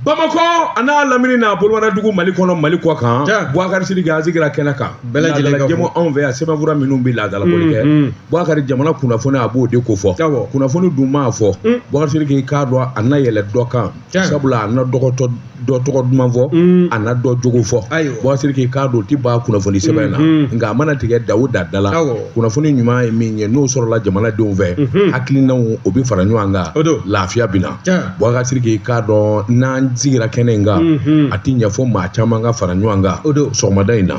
Bamakɔ a n'a lamini n'a bolofara dugu mali kɔnɔ mali kɔ kan buwakari sidiki an sigira kɛnɛ kan bɛɛjɛmu anw fɛ yan sɛbɛnfura minnu bɛ laadala bɔli kɛ buwakari jamana kunnafoni a b'o de ko fɔ kunnafoni dun maa fɔ buwakari sidiki k'a dɔn a na yɛlɛ dɔ kan sabula a na dɔ tɔgɔ dɔ tɔgɔ duman fɔ a na dɔ jogo fɔ buwakari sidiki k'a dɔn tɛ ban kunnafoni sɛbɛn in na nka a mana tigɛ da o da da la kunnafoni ɲuman ye min ye n'o sɔrɔla jamanadenw fɛ hakilinaw o bɛ fara ɲɔgɔn kan lafiya bɛ na Buwakari sidiki k'a dɔn n'an sigira kɛnɛ in kan a tɛ ɲɛfɔ maa caman ka fara ɲɔgɔn kan sɔgɔmada in na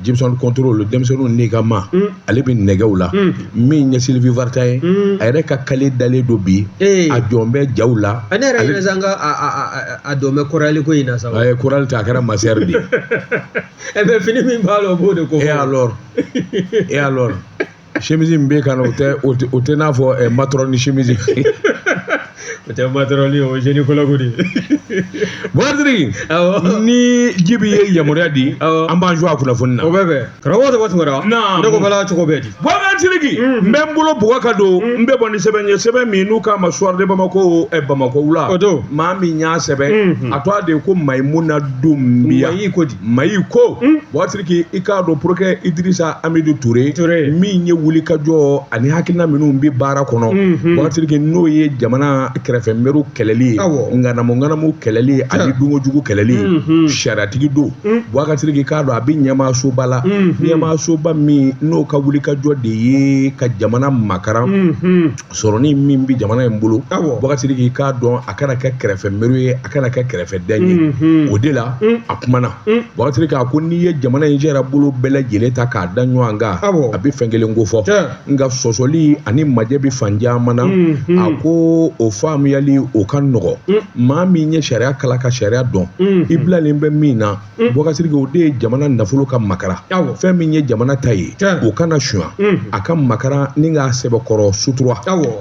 jibisɔn kɔntɔrɔli denmisɛnninw n'i k'a ma ale bɛ nɛgɛw la min ye silivi varta ye a yɛrɛ ka kale dalen don bi a jɔn bɛ jaw la ale a dɔn bɛ korali ko in na sa a ye korali ta a kɛra masɛri de mɛ fini min b'a la o b'o de ko e alɔri simisi min bɛ kan na o tɛ o tɛ n'a fɔ ɛ matɔrɔni simisi o tɛ matɔrɔn ye o zenikɔlɔgi de buwakari sidiki ni jibi ye yamaruya di an b'an jɔ a kunnafoni na o bɛ bɛn karamɔgɔ tɔgɔ tugura ne ko bala cogo bɛɛ di buwakari sidiki n bɛ n bolo buwakari don n bɛ bɔ ni sɛbɛn ye sɛbɛn min n'u k'a ma suwari de bamako bamakɔ wula maa min y'a sɛbɛn a tɔgɔ de ye ko mayimuna dunbiya Mayi ko buwakari sidiki i k'a dɔn porokirɛri idirisa amidu ture min ye wulikajɔ ani hakilina minnu bɛ baara kɔnɔ buwakari sidiki n'o ye jamana kɛrɛfɛ mɛru kɛlɛli ye ŋanamuŋanamu kɛlɛli ye ani dunkojugu kɛlɛli ye sariyatigi don buwakari sidiki k'a dɔn a bɛ ɲɛmasoba la ɲɛmasoba min n'o ka wulikajɔ de ye ka jamana makaran sɔrɔni min bɛ jamana in bolo buwakari sidiki k'a dɔn a kana kɛ kɛrɛfɛ mɛru ye a kana kɛ kɛrɛfɛ dan ye o de la a kumana buwakari sidiki a ko n'i ye jamana in sariya bolo bɛɛ lajɛlen ta k'a da ɲɔgɔn kan a bɛ fɛn kelen ko fɔ nka sɔsɔli ani majɛ bɛ fan caman na a ko o faamuyali o ka nɔgɔ maa min ye sariya kalan ka sariya dɔn i bilalen bɛ min na Buwakari sidiki o de ye jamana nafolo ka makaran fɛn min ye jamana ta ye o kana sonya a ka makaran ni k'a sɛbɛkɔrɔ sutura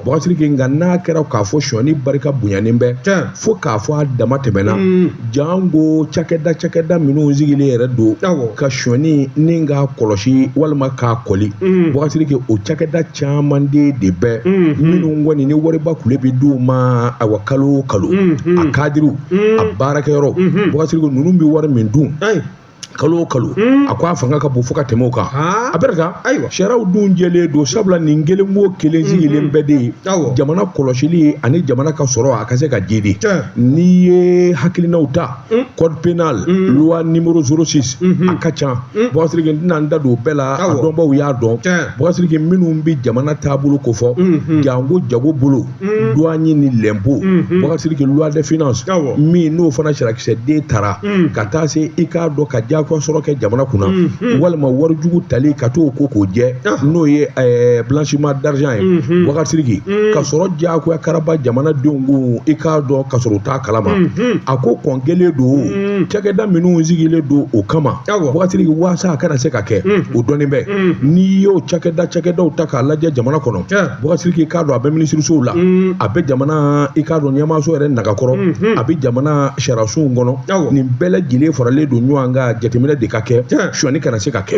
buwakari sidiki nka n'a kɛra k'a fɔ sonyani barika bonyanen bɛ fo k'a fɔ a dama tɛmɛna janko cakɛda cakɛda minnu sigilen yɛrɛ don ka sonyani nin k'a kɔlɔsi walima k'a kɔli buwakari sidiki o cakɛda caman de bɛ minnu kɔni ni wariba kulu bɛ d'u ma awa kalo o kalo a kadiriw a baarakɛyɔrɔ buwakari sidiki ninnu bɛ wari min dun kalo o kalo a ko a fanga ka bon fo ka tɛmɛ o kan a baara sariyaw dun jɛlen don sabula nin kelen o kelen sigilen bɛɛ de ye jamana kɔlɔsili ani jamana ka sɔrɔ a ka se ka jiidi n'i ye hakilinaw ta code pénal loi numéro 06 a ka ca bubakari sidiki n tɛna n da don o bɛɛ la a Awɔ. dɔnbaw y'a dɔn Tiɲɛ. bubakari sidiki minnu bɛ jamana taabolo kofɔ jango jago bolo douane ni l'impôt bubakari sidiki loi de finance Awɔ. min n'o fana sariyakisɛden tara ka taa se i k'a dɔn ka diyagoya sɔrɔ kɛ jamana kunna walima wari jugu tali ka t'o ko k'o jɛ n'o ye eh, blanchiment d'argent ye bubakari sidiki ka sɔrɔ diyagoya karaba jamanadenw kun i k'a dɔn ka sɔrɔ u t'a kalama a ko kɔn kelen don cakɛda minnu sigilen don o kama bubakari sidiki waasa a kana se ka kɛ o dɔnni bɛ n'i y'o cakɛda cakɛdaw ta k'a lajɛ jamana kɔnɔ bubakari sidiki i k'a dɔn a bɛ minisirisow la a bɛ jamana i k'a dɔn ɲɛmaaso yɛrɛ nagakɔrɔ a bɛ jamana sariyasow kɔnɔ nin bɛɛ lajɛlen faralen don ɲɔgɔn kan jateminɛ de ka kɛ suɲani kana se ka kɛ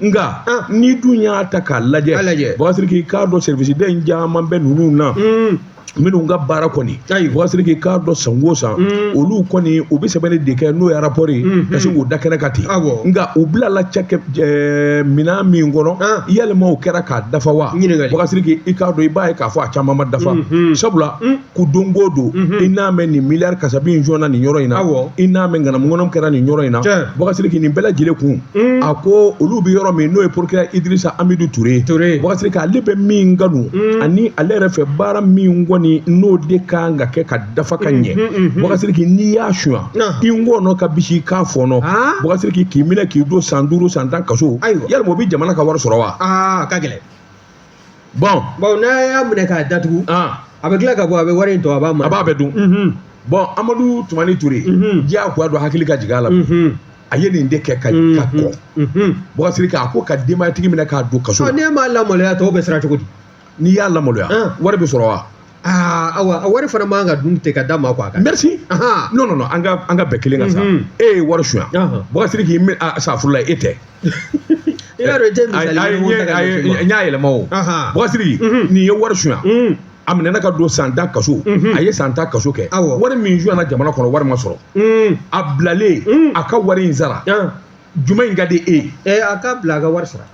nka ni dun y'a ta k'a lajɛ bubakari sidiki i k'a dɔn service den caman bɛ ninnu na minnu ka baara kɔni bubakari sidiki i k'a dɔn san o san olu kɔni u bɛ sɛbɛnni de kɛ n'o ye rapport ye ka sin k'o da kɛnɛ kan ten nka u bilala minɛn min kɔnɔ yalima o kɛra k'a dafa wa bubakari sidiki i k'a dɔn i b'a ye k'a fɔ a caman ma dafa sabula ko don o don i n'a mɛn nin miliyari kasabi in suɲana nin yɔrɔ in na i n'a mɛn ŋanamu ŋanamu kɛra nin yɔrɔ in na bubakari sidiki nin bɛɛ lajɛlen kun a ko olu bɛ yɔrɔ min n'o ye procureur idrisa amidu ture bubakari sidiki ale bɛ min kanu ani ale yɛrɛ fɛ baara min kɔni n'o de kan ka kɛ ka dafa ka ɲɛ bubakari sidiki n'i y'a suɲa i ngɔɔnɔ ka bisi k'a fɔɔnɔ bubakari sidiki k'i minɛ k'i don san duuru san tan kaso yalima o bɛ jamana ka wari sɔrɔ wa ka gɛlɛn bon bawo n'a y'a minɛ k'a datugu a bɛ tila ka bɔ a bɛ wari in to a b'a ma a b'a bɛɛ dun bon amadu tumani ture diyagoya dɔ hakili ka jigin a la a ye nin de kɛ ka kɔn bubakari sidiki a ko ka denbayatigi minɛ k'a don kaso n'e m'a lamaloya tɔw bɛ siran cogo di n'i y'a lamaloya wari bɛ sɔrɔ wa aa awa a wari fana man ka dun ten ka d'a ma quoi a ka merci Ahan. non non non an ka an ka bɛɛ kelen ka sa Mhm. e ye wari suɲa Ahan. bubakari sidiki mi a safurula e tɛ i b'a dɔn i tɛ A- misali a- ye mun ta ka a- ɲɛsin ma. n y'a yɛlɛma o Ahan. bubakari sidiki Mhm. nin ye wari suɲa Mm. a minɛna k'a don san tan kaso Mhm. a ye san tan kaso kɛ Awɔ. wari min suɲana jamana kɔnɔ wari ma sɔrɔ Mm. a bilalen Mm. a ka wari in sara Ah. jumɛn in ka di e ye. ɛ a ka bila a ka wari sara.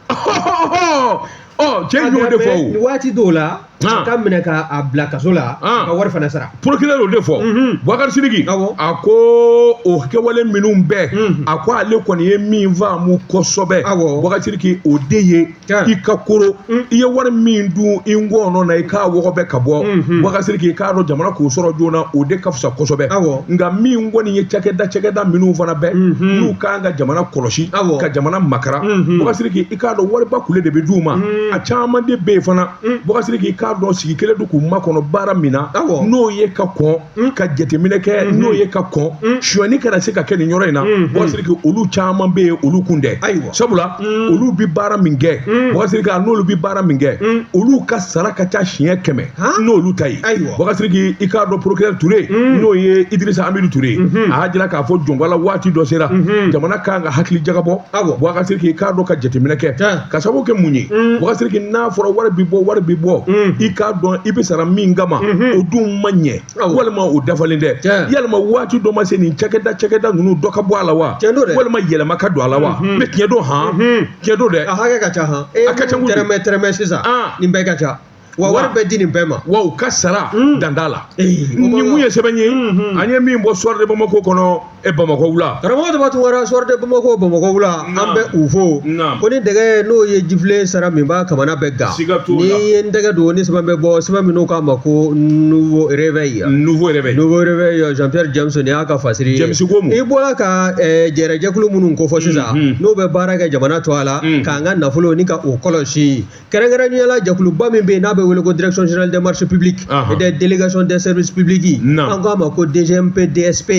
ɔ cɛ in y'o de fɔ o. waati dɔw la. a ka minɛ k'a bila kaso la. ka wari fana sara. procureur y'o de fɔ. bubakari sidiki. awɔ a ko o kɛwale minnu bɛ. a ko ale kɔni ye min faamu kosɛbɛ. awɔ bubakari sidiki o de ye. i ka koro mm. i ye wari min dun i ngɔɔnɔ na i k'a wɔgɔbɛ ka bɔ mm-hmm. bubakari sidiki i k'a dɔn jamana k'o sɔrɔ joona o de ka fisa kosɛbɛ nka min kɔni ye cakɛda cakɛda minnu fana bɛ mm-hmm. n'u kan ka jamana kɔlɔsi ka jamana makara mm-hmm. bubakari sidiki i k'a dɔn wariba kule de bɛ d'u ma mm. a caman de bɛ yen fana mm. bubakari sidiki i k'a dɔn sigi kelen don k'u makɔnɔ baara min na n'o ye ka kɔn mm. ka jateminɛ kɛ mm-hmm. n'o ye ka kɔn mm. suɲɛni kana se ka kɛ nin yɔrɔ in na mm-hmm. Boubacar Sidiki olu caman bɛ yen olu kun tɛ ayiwa sabula mm. olu bi baara min kɛ mm. Boubacar Sidiki n'olu bi baara min kɛ mm. olu ka sara ka ca siɲɛ kɛmɛ n'olu ta ye ayiwa Boubacar Sidiki i k'a dɔn procureur Touré mm. n'o ye Idrissa Amidou Touré mm-hmm. a y'a jira k'a fɔ jɔn ko Ala waati dɔ sera mm-hmm. jamana kan ka hakili jagabɔ Boubacar Sidiki i k'a dɔn ka jateminɛ kɛ ka sababu kɛ mun ye Boubacar Sidiki n'a fɔra wari bɛ bɔ wari bɛ bɔ i k'a dɔn i bɛ sara min kama o dun ma ɲɛ walima o dafalen tɛ yalima waati dɔ ma se nin cakɛda cakɛda ninnu dɔ ka bɔ a la wa walima yɛlɛma ka don a la wa mais tiɲɛ don han tiɲɛ don dɛ a hakɛ ka ca han a ka ca n ko tɛrɛmɛ tɛrɛmɛ sisan nin bɛɛ ka ca wa wari bɛ di nin bɛɛ ma wa u ka sara mm. danda la nin mun ye sɛbɛn ye mm-hmm. an ye min bɔ Soir de Bamako kɔnɔ e bamakɔ wula karamɔgɔ Demba Tounkara Soir de Bamako bamakɔ wula an bɛ u fo ko ni dɛgɛ n'o ye jifilen sara min b'a kamana bɛɛ gan n'i ye n tɛgɛ don ni sɛbɛn bɛ bɔ sɛbɛn min n'o k'a ma ko nouveau réveil nouveau réveil nouveau réveil jean pierre james ni y'a ka fasiri ye james ko mun i bɔra ka eh, jɛrɛjɛkulu minnu kofɔ sisan mm-hmm. n'o bɛ baara kɛ jamana tɔgɔ la mm-hmm. k'an ka nafolo ni ka o kɔlɔsi kɛrɛnkɛrɛnnenya la jɛkuluba min bɛ yen n'a bɛ wele ko direction générale des marchés publics et des délégations des services publics an k'a ma ko DGMP DSP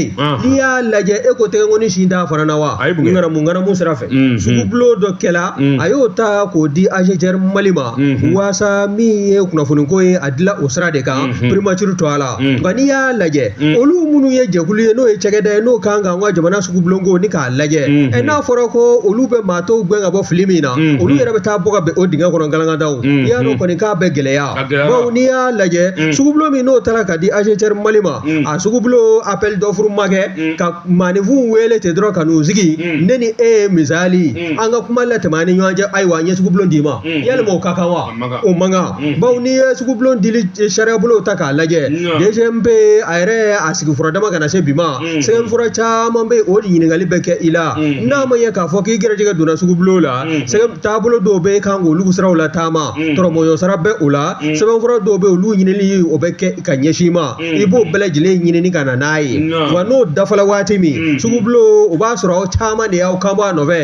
n'i y'a lajɛ e ko tɛgɛnkɔni sin t'a fana na wa ŋanamu ŋanamu sira fɛ sugubulon dɔ kɛla a y'o ta k'o di AGETIER Mali ma waasa min ye kunnafoniko ye a dila o sira de kan primature tɔgɔ la nka n'i y'a lajɛ olu minnu ye jɛkulu ye n'o ye cakɛda ye n'o kan ka an ka jamana sugubulonko ni k'a lajɛ ɛ n'a fɔra ko olu bɛ maa tɔw gɛn ka bɔ fili min na olu yɛrɛ bɛ taa bɔ ka bin o dingɛ kɔnɔ galangadaw i y'a dɔn kɔni k'a bɛ gɛlɛya bawo n'i y'a lajɛ sugubulon min n'o taara ka di AGETIER Mali ma a sugubulon appel d'offre ma kɛ ka maaninfinw wele ten dɔrɔn ka n'u sigi ne ni e ye misali an ka kuma latɛmɛ an ni ɲɔgɔn cɛ ayiwa n ye sugubulon d'i ma yalima o ka kan wa o man kan bawo n'i ye sugubulon dili sariyabolo ta k'a lajɛ DGMP a yɛrɛ a sigi fura dama ka na se bi ma sɛbɛnfura caman bɛ yen o ɲininkali bɛ kɛ i la n'a ma ye k'a fɔ k'i gɛrɛjɛgɛ donna sugubulon la sɛbɛn taabolo dɔw bɛ yen kan k'olu siraw lataama tɔrɔmɔɲɔ sara bɛ o la sɛbɛnfura dɔw bɛ yen olu ɲinili o bɛ kɛ ka ɲɛsin i ma i b'o bɛɛ lajɛlen ɲinini ka na n'a ye wa n'o dafala waati min sugubulon o b'a sɔrɔ aw caman de y'aw kanbɔ a nɔfɛ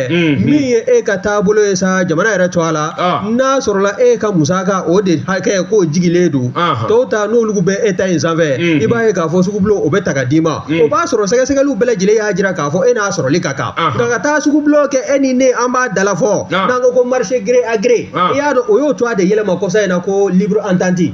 min ye e ka taabolo ye sa jamana yɛrɛ tɔgɔ la n'a sɔrɔla e ka musaka o de hakɛ k'o jigilen don tɔw ta n'olu bɛ e ta in sanfɛ i b'a ye k'a fɔ sugubulon o bɛ ta ka d'i ma o b'a sɔrɔ sɛgɛsɛgɛliw bɛɛ lajɛlen y'a jira k'a fɔ e n'a sɔrɔli ka kan nka ka taa sugubulon kɛ e ni ne an b'a dalafɔ n'an ko ko marché gré à gré i y'a dɔn o y'o tɔgɔ de yɛlɛma kɔsa in na ko libre entente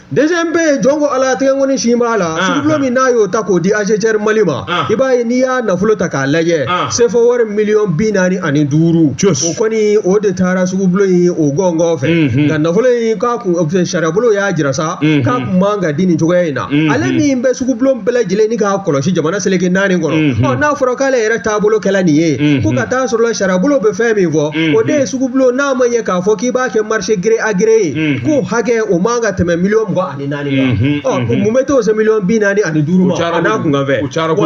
DGMP jɔn ko ala tɛgɛ nkɔni sin b'a la Anhan. sugubulo min n'a y'o ta k'o di AGCR Mali ma Anhan. i b'a ye n'i y'a nafolo ta k'a lajɛ Anhan. sefa wari miliyɔn bi naani ani duuru Cus. o kɔni o de taara sugubulo in o gɔngɔn fɛ Mhm. nka nafolo in k'a kun o fɛ, sariyabolo y'a jira sa Mhm. k'a kun man ka di nin cogoya in na Mhm. ale min bɛ sugubulon bɛɛ lajɛlen ni k'a kɔlɔsi jamana seleke naani kɔnɔ Mhm. ɔ n'a fɔra k'ale yɛrɛ taabolo kɛla nin ye Mhm. ko ka taa sɔrɔla sariyabolo bɛ fɛn min fɔ o de ye sugubulon n'a ma ɲɛ k'a fɔ k'i b'a kɛ marché gré à gré ye ko hakɛ o man ka tɛmɛ miliyɔn mugan ani naani kan mun bɛ t'o se miliyɔn bi naani ani duuru ma a n'a kun kan fɛ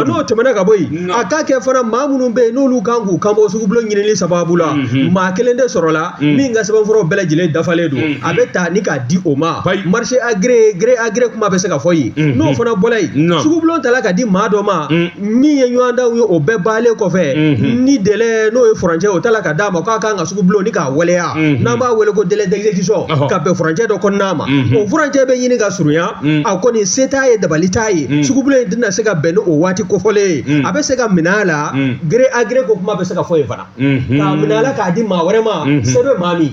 n'o tɛmɛna ka bɔ yen a ka kɛ fana maa minnu bɛ yen n'olu kan k'u kanbɔ sugubulon ɲinili sababu la maa kelen de sɔrɔla min ka sɛbɛnfuraw bɛɛ lajɛlen dafalen don a bɛ ta ni k'a di o ma marché à gré gré à gré kuma bɛ se ka fɔ yen n'o fana bɔla yen sugubulon tala ka di maa dɔ ma min ye ɲɔgɔndanw ye o bɛɛ baalen kɔfɛ mhm. ni délai n'o ye furancɛ o tala ka d'a ma k'a kan ka sugubulon ni k'a waleya mhm. n'an b'a wele ko délai d'exécution ka bɛn furancɛ dɔ kɔnɔna ma mhm. o furancɛ bɛ ɲini ka surunya a kɔni se t'a ye dabali t'a ye sugubulon in tɛna se ka bɛn ni o waati kofɔlen ye a bɛ se ka minɛ a la gré à gré ko kuma bɛ se ka fɔ yen fana k'a minɛ a la k'a di maa wɛrɛ ma se bɛ maa min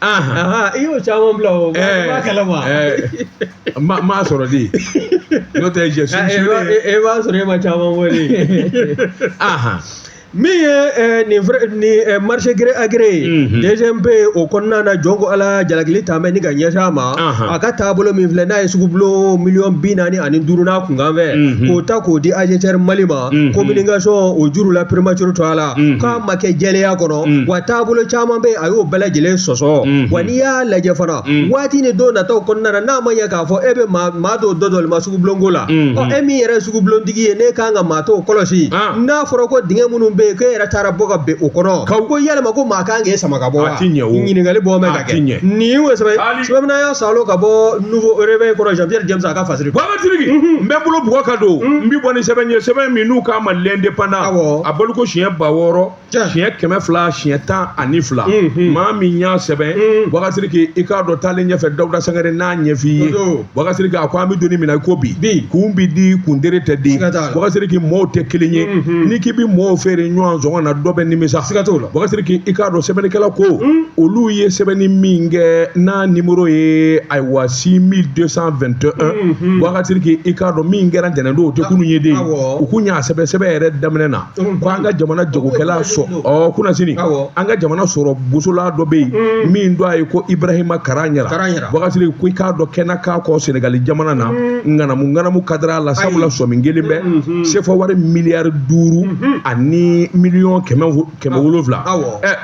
i y'o caman bila o b'a kɛlɛ ma ma ma sɔrɔ de n'o tɛ jɛ e b'a sɔrɔ e ma caman bɔ de min ye nin nin marché gré à gré ye DGMP o kɔnɔna na jɔn ko ala jalakili ta bɛ ni ka ɲɛsin a ma a ka taabolo min filɛ n'a ye sugubulon miliyɔn bi naani ani duuru n'a kunkanfɛ k'o ta k'o di AGCR Mali ma communication o juru la primature to a la k'a ma kɛ jɛlenya kɔnɔ Mm. wa taabolo caman bɛ yen a y'o bɛɛ lajɛlen sɔsɔ Mhm. wa n'i y'a lajɛ fana Mm. waati ni don nataw kɔnɔna na n'a ma ɲɛ k'a fɔ e bɛ maa maa dɔw dɔ dɔli ma sugubulonko la Mhm. ɔ e min yɛrɛ ye sugubulontigi ye n'e kan ka maa tɔw kɔlɔsi Ah. n'a fɔra ko dingɛ minnu bɛ yen k'e yɛrɛ taara bɔ ka bɛn o kɔnɔ Kaw. ko yalima ko maa kan k'e sama ka bɔ wa A ti ɲɛ o. ɲininkali bɔ mɛ A ka ti ɲɛ. kɛ nin ye o sɛbɛn Hali- sɛbɛnna y'a salo ka bɔ nouveau réveil kɔnɔ jean pierre james a ka fasiri Baba Tiriki, n bɛ bolo bugɔ ka don n bɛ bɔ ni sɛbɛn ye sɛbɛn min n'u k'a ma l'indépendant Awɔ. a baloko siɲɛ ba wɔɔrɔ siɲɛ kɛmɛ fila siɲɛ tan ani fila maa min y'a sɛbɛn wakasiri k'i i k'a dɔn taalen ɲɛfɛ dawuda sangare n'a ɲɛf'i ye wakasiri k'a ko an bɛ don min na i ko bi kun bi di kundere tɛ di wakasiri k'i mɔɔw tɛ kelen ye n'i k'i bi mɔɔw feere ɲɔgɔn sɔngɔ na dɔ bɛ nimisa siga t'o la wakasiri k'i i k'a dɔn sɛbɛnnikɛla ko olu ye sɛbɛnni min kɛ n'a nimoro ye ayiwa six mille deux cent vingt et un wakasiri k'i i k'a dɔn min kɛra ntɛnɛndon o tɛ kunun ye de u kun y'a sɛbɛn sɛbɛn yɛrɛ daminɛ na ko an ka jamana jagokɛla kunasini an ka jamana sɔrɔ bosola dɔ bɛ yen min tɔgɔ ye ko ibrahima karaɲara bɔkasiriki ko i k'a dɔn kɛnɛ k'a kɔ sɛnɛgali jamana na ŋanamuŋanamu kadiri la sabula sɔmi kɛlen bɛ sefawari miliyari duuru ani miliyɔn kɛmɛ wolonwula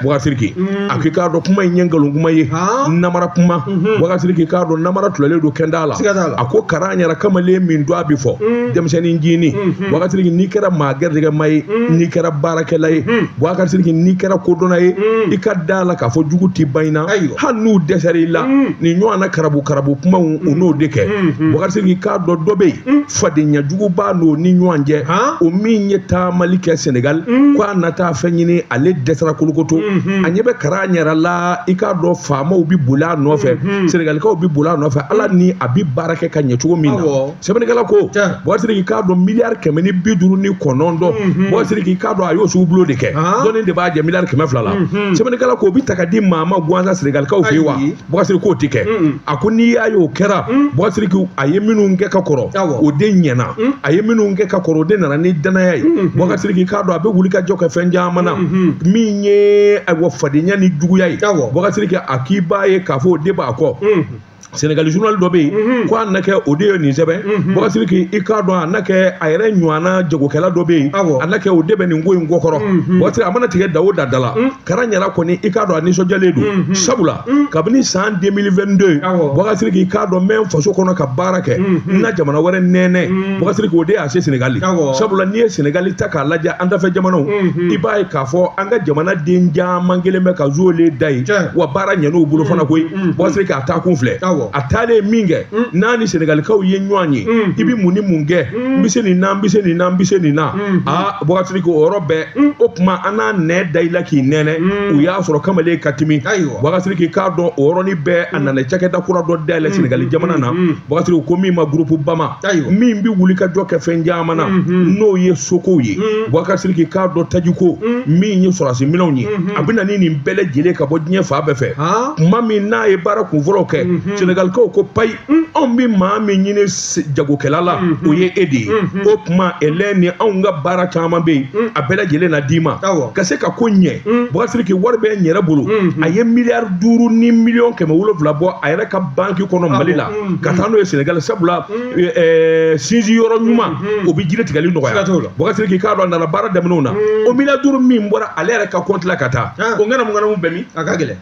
bɔkasiriki a k'i k'a dɔn kuma in ye nkalon kuma ye namara kuma bɔkasiriki i k'a dɔn namara dilalen don k'a da a la a ko karaɲara kamalen min don a bɛ fɔ denmisɛnnin ncinin bɔkasiriki n'i kɛra maa gɛrɛjɛgɛma ye n'i kɛra baarakɛla ye bɔkasiriki n'i kɛra kodɔnna ye i ka da la k'a fɔ jugu tɛ ban i na Ayiwa. hali n'u dɛsɛra i la nin ɲɔgɔn na karabu karabu kumaw u n'o de kɛ bɔkasiriki i k'a dɔn dɔ bɛ yen fadenya jugu b'a n'o ni ɲɔgɔn cɛ Han? o min ye taamali kɛ senegal ko a na taa fɛn ɲini ale dɛsɛra kolokoto a ɲɛ bɛ karaɲara la i k'a dɔn faamaw bɛ boli a nɔfɛ senegalikaw bɛ boli a nɔfɛ ala ni a bɛ baara kɛ ka ɲɛ cogo min na Awɔ. sɛbɛnnikɛla ko bɔkasiriki k'a dɔn miliyari kɛmɛ ni bi duuru ni kɔnɔntɔn mhm. bɔkasiriki k'a dɔn a y'o sugu bulo de kɛ dɔɔnin de b'a jɛ miliyari kɛmɛ fila la mhm. sɛbɛnnikɛla ko o bɛ ta ka di maa ma gansan senegalikaw fɛ yen wa bɔkasiriki k'o tɛ kɛ mhm. a ko n'i y'a ye o kɛra bɔkasiriki a ye minnu kɛ ka kɔrɔ o de ɲɛna a ye minnu kɛ ka kɔrɔ o de nana ni danaya ye bɔkasiriki k'a dɔn a bɛ wulikajɔ kɛ fɛn caman na min ye ayiwa fadenya ni juguya ye bɔkasiriki a k'i b'a ye k'a fɔ o de b'a kɔ sɛnɛgali journal dɔ bɛ yen mhm. ko a na kɛ o de ye nin sɛbɛn mhm. bɔkasiriki i k'a dɔn a na kɛ a yɛrɛ ɲɔgɔnna jagokɛla dɔ bɛ yen a na kɛ o de bɛ nin ko in kɔkɔrɔ mhm. bɔkasiriki a mana tigɛ da o da da la karaɲara kɔni i k'a dɔn a nisɔndiyalen don sabula kabini san 2022 bɔkasiriki i k'a dɔn n bɛ n faso kɔnɔ ka baara kɛ n na jamana wɛrɛ nɛnɛ bɔkasiriki k'o de y'a se sɛnɛgali sabula n'i ye sɛnɛgali ta k'a lajɛ an dafɛ jamanaw i b'a ye k'a fɔ an ka jamana den caman kɛlen bɛ ka zuwele da yen wa baara ɲɛn'u bolo fana koyi bɔkasiriki k'a taa kun filɛ a taalen min kɛ n'a ni sɛnɛgalikaw ye ɲɔgɔn ye i bɛ mun ni mun kɛ n bɛ se nin na n bɛ se nin na n bɛ se nin na aa bɔkasiriki o yɔrɔ bɛɛ o tuma an n'a nɛn da i la k'i nɛnɛ u y'a sɔrɔ kamalen ka timi bɔkasiriki i k'a dɔn o yɔrɔnin bɛɛ a nana cakɛda kura dɔ dayɛlɛ sɛnɛgali jamana na bɔkasiriki ko min ma gurupu bama min bɛ wulikajɔ kɛ fɛn caman na n'o ye sokow ye bɔkasiriki i k'a dɔn tajiko min ye sɔrɔdasi minɛnw ye a bɛ na ni nin bɛɛ lajɛlen ka bɔ diɲɛ fan bɛɛ fɛ tuma min n'a ye baara kunfɔlɔw kɛ sɛnɛgalikaw ko payi anw bɛ maa min ɲini jagokɛla la o ye e de ye o tuma ele ni anw ka baara caman bɛ yen a bɛɛ lajɛlen na d'i ma ka se ka ko ɲɛ bɔkasiriki wari bɛ n yɛrɛ bolo a ye miliyari duuru ni miliyɔn kɛmɛ wolonwula bɔ a yɛrɛ ka banki kɔnɔ mali la ka taa n'o ye sɛnɛgali sabula sinsin yɔrɔ ɲuman o bɛ jiri tigɛli nɔgɔya Bakasiriki k'a dɔn a nana baara daminɛw na o miliyari duuru min bɔra ale yɛrɛ ka kɔnti la ka taa o ŋanamuŋanamu bɛ min a ka gɛlɛn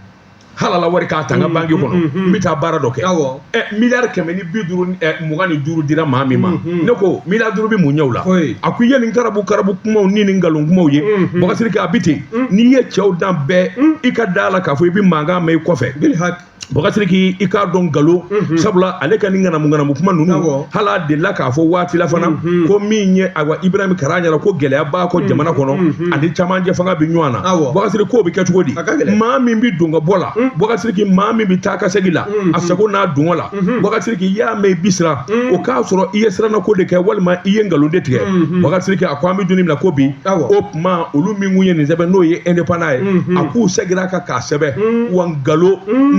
halala wari k'a ta n ka banki kɔnɔ n bɛ taa baara dɔ kɛ ɛ miliyari kɛmɛ ni bi duuru mugan ni duuru dira maa min ma ne ko miliyari duuru bɛ mun ɲɛ o la a ko i ye nin karabu karabu kumaw ni nin nkalon kumaw ye Bakasiriki a bɛ ten n'i ye cɛw dan bɛɛ i ka da la k'a fɔ i bɛ mankan mɛn i kɔfɛ Bakasiriki i k'a dɔn nkalon sabula ale ka nin ŋanamuŋanamu kuma ninnu Awɔ. hali a delila k'a fɔ waati la fana ko min ye awa Ibrahim Karagnara ko gɛlɛya b'a kɔ jamana kɔnɔ a ni camancɛ fanga bɛ ɲɔgɔn na Awɔ. Bakasiriki k'o bɛ kɛ cogo di A ka gɛlɛn. maa min bɛ don ka bɔ la Bakasiriki maa min bɛ taa ka segin la a sago n'a dungɔ la Bakasiriki y'a mɛn i bi siran o k'a sɔrɔ i ye sirannako de kɛ walima i ye nkalon de tigɛ Bakasiriki a ko an bɛ don min na ko bi Awɔ. o tuma olu min kun ye nin sɛbɛn n'o ye indépendant ye a k'u segira kan k'a sɛbɛn wa nkalon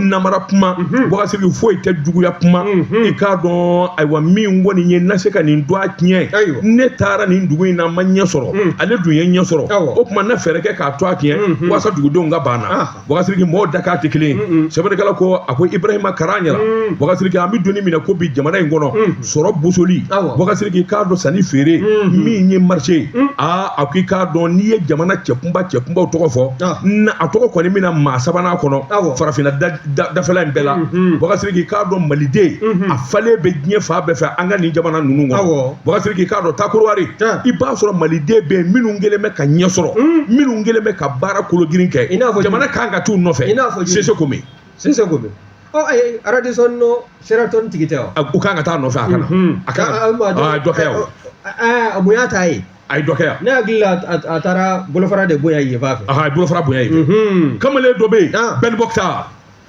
namara kuma Bakasiriki foyi tɛ juguya kuma i k'a dɔn ayiwa min kɔni ye na se ka nin dɔ a tiɲɛ ne taara nin dugu in na ma ɲɛ sɔrɔ ale dun ye ɲɛ sɔrɔ o tuma na fɛɛrɛ kɛ k'a tɔgɔ tiɲɛ waasa dugudenw ka ban a na Bakasiriki mɔgɔw dakan tɛ kelen ye, un un, sɛbɛnnikɛla ko a ko Ibrahima Karagnara, un, Bakasiriki an bɛ don min na ko bi jamana in kɔnɔ, un, sɔrɔ bosoli, awɔ, Bakasiriki k'a dɔn sanni feere, un, min ye marché ye, un, aa a ko i k'a dɔn n'i ye jamana cɛkunba cɛkunbaw tɔgɔ fɔ, ah, na a tɔgɔ kɔni bɛna maa sabanan kɔnɔ, awɔ, farafinna da, da, dafɛla in bɛɛ la, unhun, Bakasiriki k'a dɔn maliden, unhun, a falen bɛ diɲɛ fan bɛɛ fɛ an ka nin jamana ninnu kɔnɔ, awɔ. Bakasiriki k'a dɔn taa Kɔdiwari Tiɲɛ. i b'a sɔrɔ maliden bɛ yen minnu kɛlen bɛ ka ɲɛ sɔrɔ minnu kɛlen bɛ ka baara kologirin kɛ I n'a fɔ jamana kan ka t'u nɔfɛ I n'a fɔ jumɛn? Cessé Komé Cessé Komé. Ɔ ayi Radisson ni Sheraton tigi tɛ wa? a- u kan ka taa nɔfɛ a kana Mhm. a kana Aa, maa a ye dɔ kɛ yan o. Aa, a mun y'a ta ye? a ye dɔ kɛ yan Ne hakili la a a taara bolofara de bonya yen fan fɛ. Aha, a ye bolofara bonya yen Mhm. kamalen dɔ bɛ yen Ah. Ben Moctar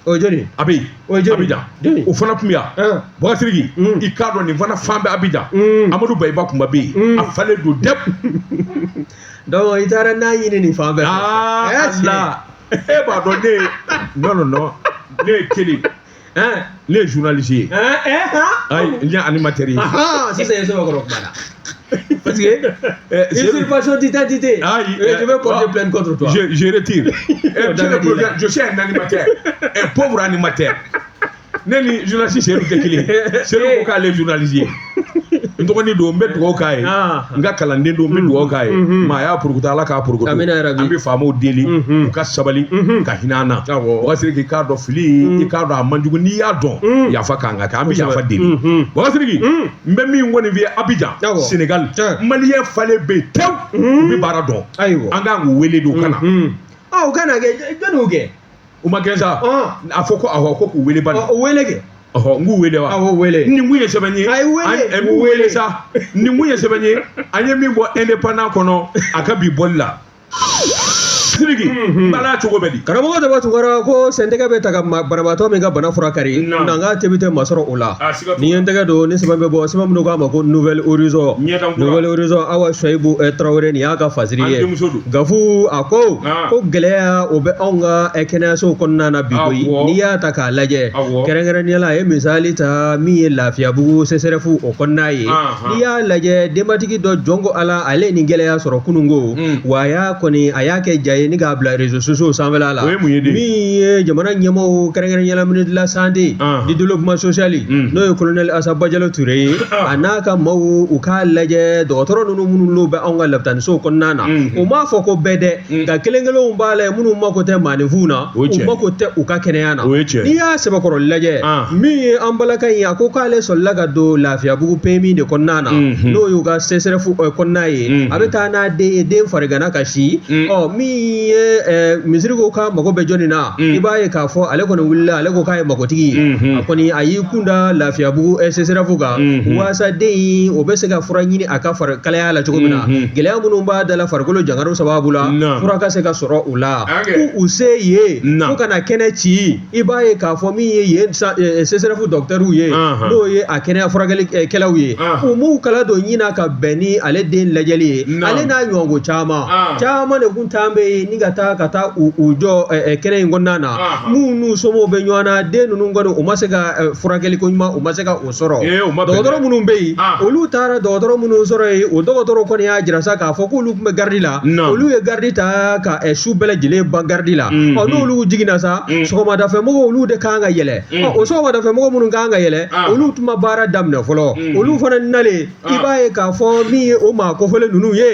o ye jɔni ye a bɛ yen o abijan jɔni o fana tun bɛ yan bakasiriki i k'a dɔn nin fana fan bɛ abijan amadu bayiba kuma bɛ yen a falen don dɛ donc i taara n'a ɲini nin fan bɛɛ aa ala e b'a dɔn ne ye non non non ne ye kelen ne ye journaliste ye ayi n ye animateur ye sisan i ye sɛbɛkɔrɔ kuma na Parce que. Euh, Usurpation d'identité. Ah, je euh, vais porter ah, plainte contre toi. Je, je retire. Eh, je suis un animateur. un pauvre animateur. ne ni journaliste seyidu tɛ kelen ye seyidu ko k'ale ye journaliste ye n dɔgɔnin don n bɛ dugawu k'a ye n ka kalanden don n bɛ dugawu k'a ye maa y'a purukuta ala k'a purukuta an bɛ faamaw deli u ka sabali ka hinɛ an na Bakasiriki k'a dɔn fili i k'a dɔn a man jugu n'i y'a dɔn yafa kan ka kɛ an bɛ yafa deli Bakasiriki n bɛ min kɔni f'i ye Abidjan Awɔ. Sénégal Tiɲɛ. maliyɛn falen bɛ yen tewu u bɛ baara dɔn Ayiwa. an kan k'u wele de u ka na Mhm. Ah, u ka na kɛ jɔni y'u gɛn u ma gɛn sa Ɔn. a fɔ ko awɔ ko k'u wele bani Ɔ, o wele kɛ ɔhɔ n k'u wele wa awɔ wele nin kun ye sɛbɛn ye A ye wele. an- ɛ, k'u wele sa nin kun ye sɛbɛn ye an ye min bɔ indépendant kɔnɔ a ka bi bɔli la siriki bala cogo bɛ di karamɔgɔ dama tun kɔrɔ ko sɛntɛgɛ bɛ taa ka ma- banabaatɔ min ka bana fura kari Naamu. nka n ka tebi tɛ masɔrɔ o la a siga t'o ne ye n tɛgɛ don ni sɛbɛn bɛ bɔ sɛbɛn min u k'a ma ko Nouvel Horizon Ɲɛdan kura. Nouvel Horizon awa suwayibu eh, tarawele nin y'a ka fasiri ye An denmuso don. gafu a ko Ah. ko gɛlɛya o bɛ anw ka eh, kɛnɛyasow kɔnɔna na bi koyi Awɔ. n'i y'a ta k'a lajɛ Awɔ. kɛrɛnkɛrɛnnenya la a ye misali ta min ye lafiyabugu sɛsɛrɛfu o kɔnɔna ye Ah. n'i y'a lajɛ denbatigi dɔ jɔn ko ala ale ye nin gɛlɛya sɔrɔ kunun ko wa a y'a kɔni a y'a kɛ ja ye ni k'a bila réseaux sociaux sanfɛ la min ye jamana ɲɛmɔgɔw kɛrɛnkɛrɛnnenya la ministre de la santé du développement social n'o ye colonel Assa Badiallo Touré ye a n'a ka maaw u k'a lajɛ dɔgɔtɔrɔ ninnu minnu n'o bɛ anw ka labitanisow kɔnɔna na o m'a fɔ ko bɛɛ dɛ nka kelen kelenw b'a la minnu mako tɛ maaninfinw na u mako tɛ u ka kɛnɛya na o ye tiɲɛ n'i y'a sɛbɛkɔrɔ lajɛ min ye an balaka in ye a ko k'ale sɔrɔla ka don lafiyabugu pemi de kɔnɔna na n'o y'u ka sɛsɛrɛfu kɔnɔna ye a bɛ taa n'a den ye den farigana ka si ɔ min ye misiri ko k'a mago bɛ jɔnni na i b'a ye k'a fɔ ale kɔni wulila ale ko k'a ye makotigi ye a kɔni a y'i kun da lafiyabugu sɛsɛrɛfu kan waasa den in o bɛ se ka fura ɲini a ka farikalaya la cogo min na gɛlɛya minnu b'a da la farikolo jangaro sababu la fura ka se ka sɔrɔ u la u se yen fo ka na kɛnɛ ci i b'a ye k'a fɔ min ye yen sɛsɛrɛfu docteur ye n'o ye a kɛnɛya furakɛlikɛlaw ye u m'u kala don ɲin na ka bɛn ni ale den lajɛli ye ale n'a ɲɔgɔnko caman caman de tun bɛ yen ni ka taa ka taa u jɔ kɛnɛ in kɔnɔna na minnu n'u somɔgɔw bɛ ɲɔgɔn na den ninnu kɔni u ma se ka furakɛliko ɲuman u ma se ka sɔrɔ dɔgɔtɔrɔ minnu bɛ yen olu taara dɔgɔtɔrɔ minnu sɔrɔ yen o dɔgɔtɔrɔ kɔni y'a jira sa k'a fɔ k'olu tun bɛ garidi la olu ye garidi ta ka su bɛɛ lajɛlen ban garidi la ɔ n'olu jiginna sa sɔgɔmadafɛmɔgɔ olu de kan ka yɛlɛ o sɔgɔmadafɛmɔgɔ minnu kan ka yɛlɛ olu tun ma baara daminɛ fɔlɔ olu fana nalen i ah. b'a ye k'a fɔ min ye o maa kofɔlen ninnu ye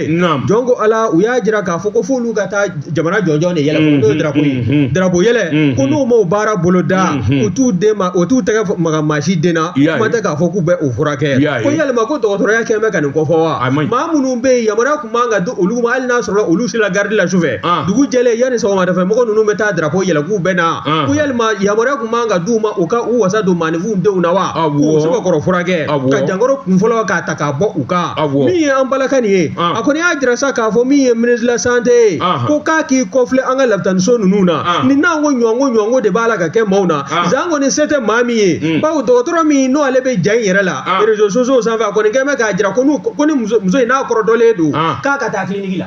jɔn ko ala u y'a jira k'a fɔ ko f'olu ka taa jamana jɔnjɔn de yɛlɛ mm-hmm. n'o ye drapo ye mm-hmm. drapo yɛlɛ mm-hmm. ko n'u m'o baara bolo da u t'u den ma o t'u tɛgɛ maga maa si den na kuma tɛ k'a fɔ k'u bɛ o furakɛ ko yalima ko dɔgɔtɔrɔya kɛlen bɛ ka nin kofɔ wa maa minnu bɛ yen yamaruya tun man ka di olu ma hali n'a sɔrɔ olu sira garidi la sufɛ ah. dugu jɛlen yanni sɔgɔmadafɛ mɔgɔ ninnu bɛ taa drapo yɛlɛ k'u bɛ na ah. ko yalima yamaruya tun man ka d'u ma u ka u wasa don maa b'u denw na wa awɔ k'u sɛbɛkɔrɔ furakɛ awɔ ka jankoro kun fɔlɔ k'a ta k'a bɔ u kan awɔ min ye an balimakɛ nin ye a kɔni y'a jira sa k'a fɔ min ye ministre de la santé ye ko k'a k'i kɔfilɛ an ka lapitaniso ninnu na nin n'an ko ɲɔnko ɲɔnko de b'a la ka kɛ maaw na zanko ni se tɛ maa min ye bawo dɔgɔtɔrɔ min n'o ale bɛ ja in yɛrɛ la réseaux sociaux sanfɛ a kɔni kan bɛ k'a jira ko n'u ko ni muso muso in n'a kɔrɔtɔlen don k'a ka taa kiliniki la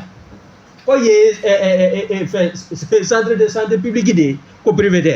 k'o ye fɛn centre de santé publique de ye ko privé tɛ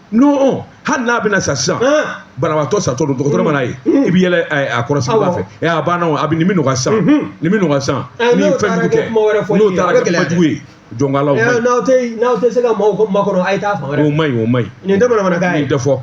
n'o hali n'a bɛna sa sisan banabaatɔ satɔ don dɔgɔtɔrɔ mana ye i bɛ yɛlɛ a kɔrɔsigibaa fɛ ɛ a banna a bɛ nin bɛ nɔgɔya sisan nin bɛ nɔgɔya sisan ni fɛn jugu kɛ n'o taara kɛ kuma jugu ye jɔnkalaw man ɲi n'aw tɛ n'aw tɛ se ka maaw ko makɔnɔ a ye taa fan wɛrɛ o man ɲi o man ɲi nin tɛ bamanankan ye nin tɛ fɔ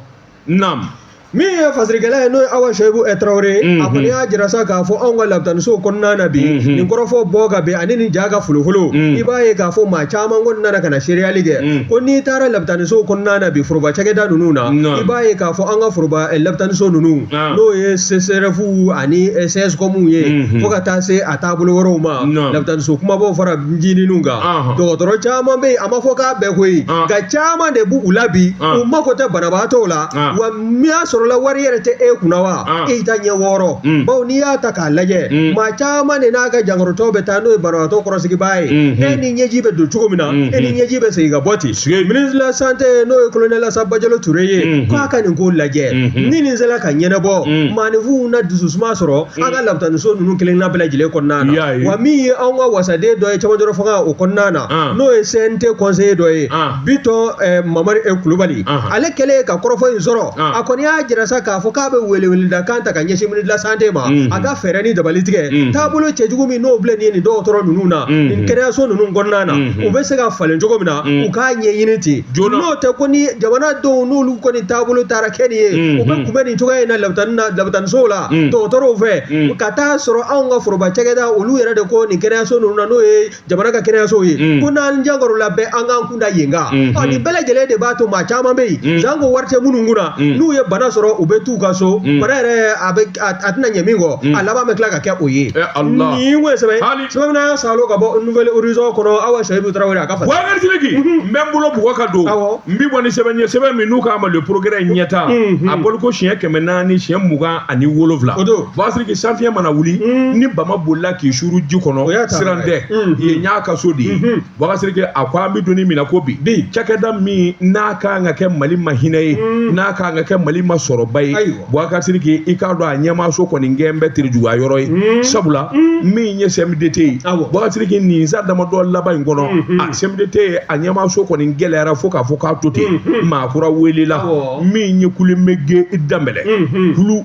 naamu min ye fasirikɛla ye n'o ye awa seyibu tarawele ye a kɔni y'a jira sa k'a fɔ anw ka labitanisow kɔnɔna na bi nin kɔrɔfɔ bɔ ka bɛn ani nin ja ka folofolo i b'a ye k'a fɔ maa caman kɔni nana ka na seereyali kɛ ko n'i taara labitanisow kɔnɔna na bi foroba cakɛda ninnu na i b'a ye k'a fɔ an ka foroba labitaniso ninnu n'o ye CSREF ani CSCOMw ye fo ka taa se a taabolo wɛrɛw ma labitaniso kumabaw fara ncininw kan dɔgɔtɔrɔ caman bɛ yen a ma fɔ k'a bɛɛ koyi nka caman de b'u la bi u mako tɛ banabaatɔw la Ah. wa n'a sɔrɔla wari yɛrɛ tɛ e kunna wa ah. e ta ɲɛ wɔɔrɔ mm. bawo n'i y'a ta k'a lajɛ mm. maa caman de n'a ka jankorotɔ bɛ taa n'o ye banabagatɔ kɔrɔsigibaa ye mm-hmm. e ni ɲɛji bɛ don cogo min na mm-hmm. e ni ɲɛji bɛ segin ka bɔ ten ministre de la santé n'o ye kolonɛli asa bajalo ture ye mm-hmm. k'a ka nin ko lajɛ ni nin sera ka ɲɛnabɔ mm. maaninfinw na dususuma sɔrɔ an ka lapitaniso ninnu kelenna bɛɛ lajɛlen kɔnɔna na wa min ye anw ka wasaden dɔ ye cɛmancɛrɔ fanga o kɔnɔna na ah. n'o ye CNT conseiller dɔ ye bitɔn eh, mamari eh, kulubali ale kɛlen ka kɔrɔfɔ in sɔrɔ a kɔni y'a jira sa k'a fɔ k'a bɛ weleweleda kan ta ka ɲɛsin ministre de la santé ma mm. a ka fɛɛrɛ ni dabali tigɛ mm. taabolo cɛjugu min n'o filɛ nin ye nin dɔgɔtɔrɔ ninnu na mm-hmm. nin kɛnɛyaso ninnu kɔnɔna na mm-hmm. u bɛ se ka falen cogo min na mm. u k'a ɲɛɲini ten n'o tɛ ko ni jamanadenw n'olu kɔni taabolo taara kɛ nin ye mm-hmm. u bɛ kunbɛn nin cogoya in na lapitani na lapitanisow la dɔgɔtɔrɔw fɛ ka taa sɔrɔ anw ka foroba cakɛda olu yɛrɛ de ko nin kɛnɛyaso ninnu na n'o ye jamana ka kɛnɛyasow ye mm. ko n'an jankorola bɛɛ an k'an kun da yen kan mm-hmm. ɔ nin bɛɛ lajɛlen de b'a to maa caman bɛ yen mm. zanko wari tɛ minnu kunna mm. n'u ye bana sɔrɔ u bɛ t'u ka so bana yɛrɛ a bɛ a tɛna ɲɛ min kɔ a laban bɛ tila ka kɛ o ye eh, nin ko ye sɛbɛn sɛbɛn n'a salo ka bɔ nouvel horizon kɔnɔ awa seyibu tarawele a ka fasa bubakari sidiki mhm. n bɛ n bolo bugɔ ka don n bɛ bɔ ni sɛbɛn ye sɛbɛn min n'u k'a ma le progrès ɲɛtaa mhm. a bɔliko siɲɛ kɛmɛ naani siɲɛ mugan ani wolonwula o don Boubacar Sidiki sanfiɲɛ mana wuli ni bama bolila k'i suuru ji kɔnɔ siran tɛ yen y'a ka so de ye Boubacar Sidiki a ko an bɛ don min na ko bi cakɛda min n'a ka kan ka kɛ mali ma hinɛ ye n'a ka kan ka kɛ mali ma sɔrɔba ye Boubacar Sidiki i k'a dɔn a ɲɛmaaso kɔni kɛlen bɛ terejuguya yɔrɔ ye sabula min ye CMDT ye Boubacar Sidiki nin san damadɔ laban in kɔnɔ a CMDT ye a ɲɛmaaso kɔni gɛlɛyara fo k'a fɔ k'a to ten maa kura welela min ye kulumɛgɛ danbɛlɛ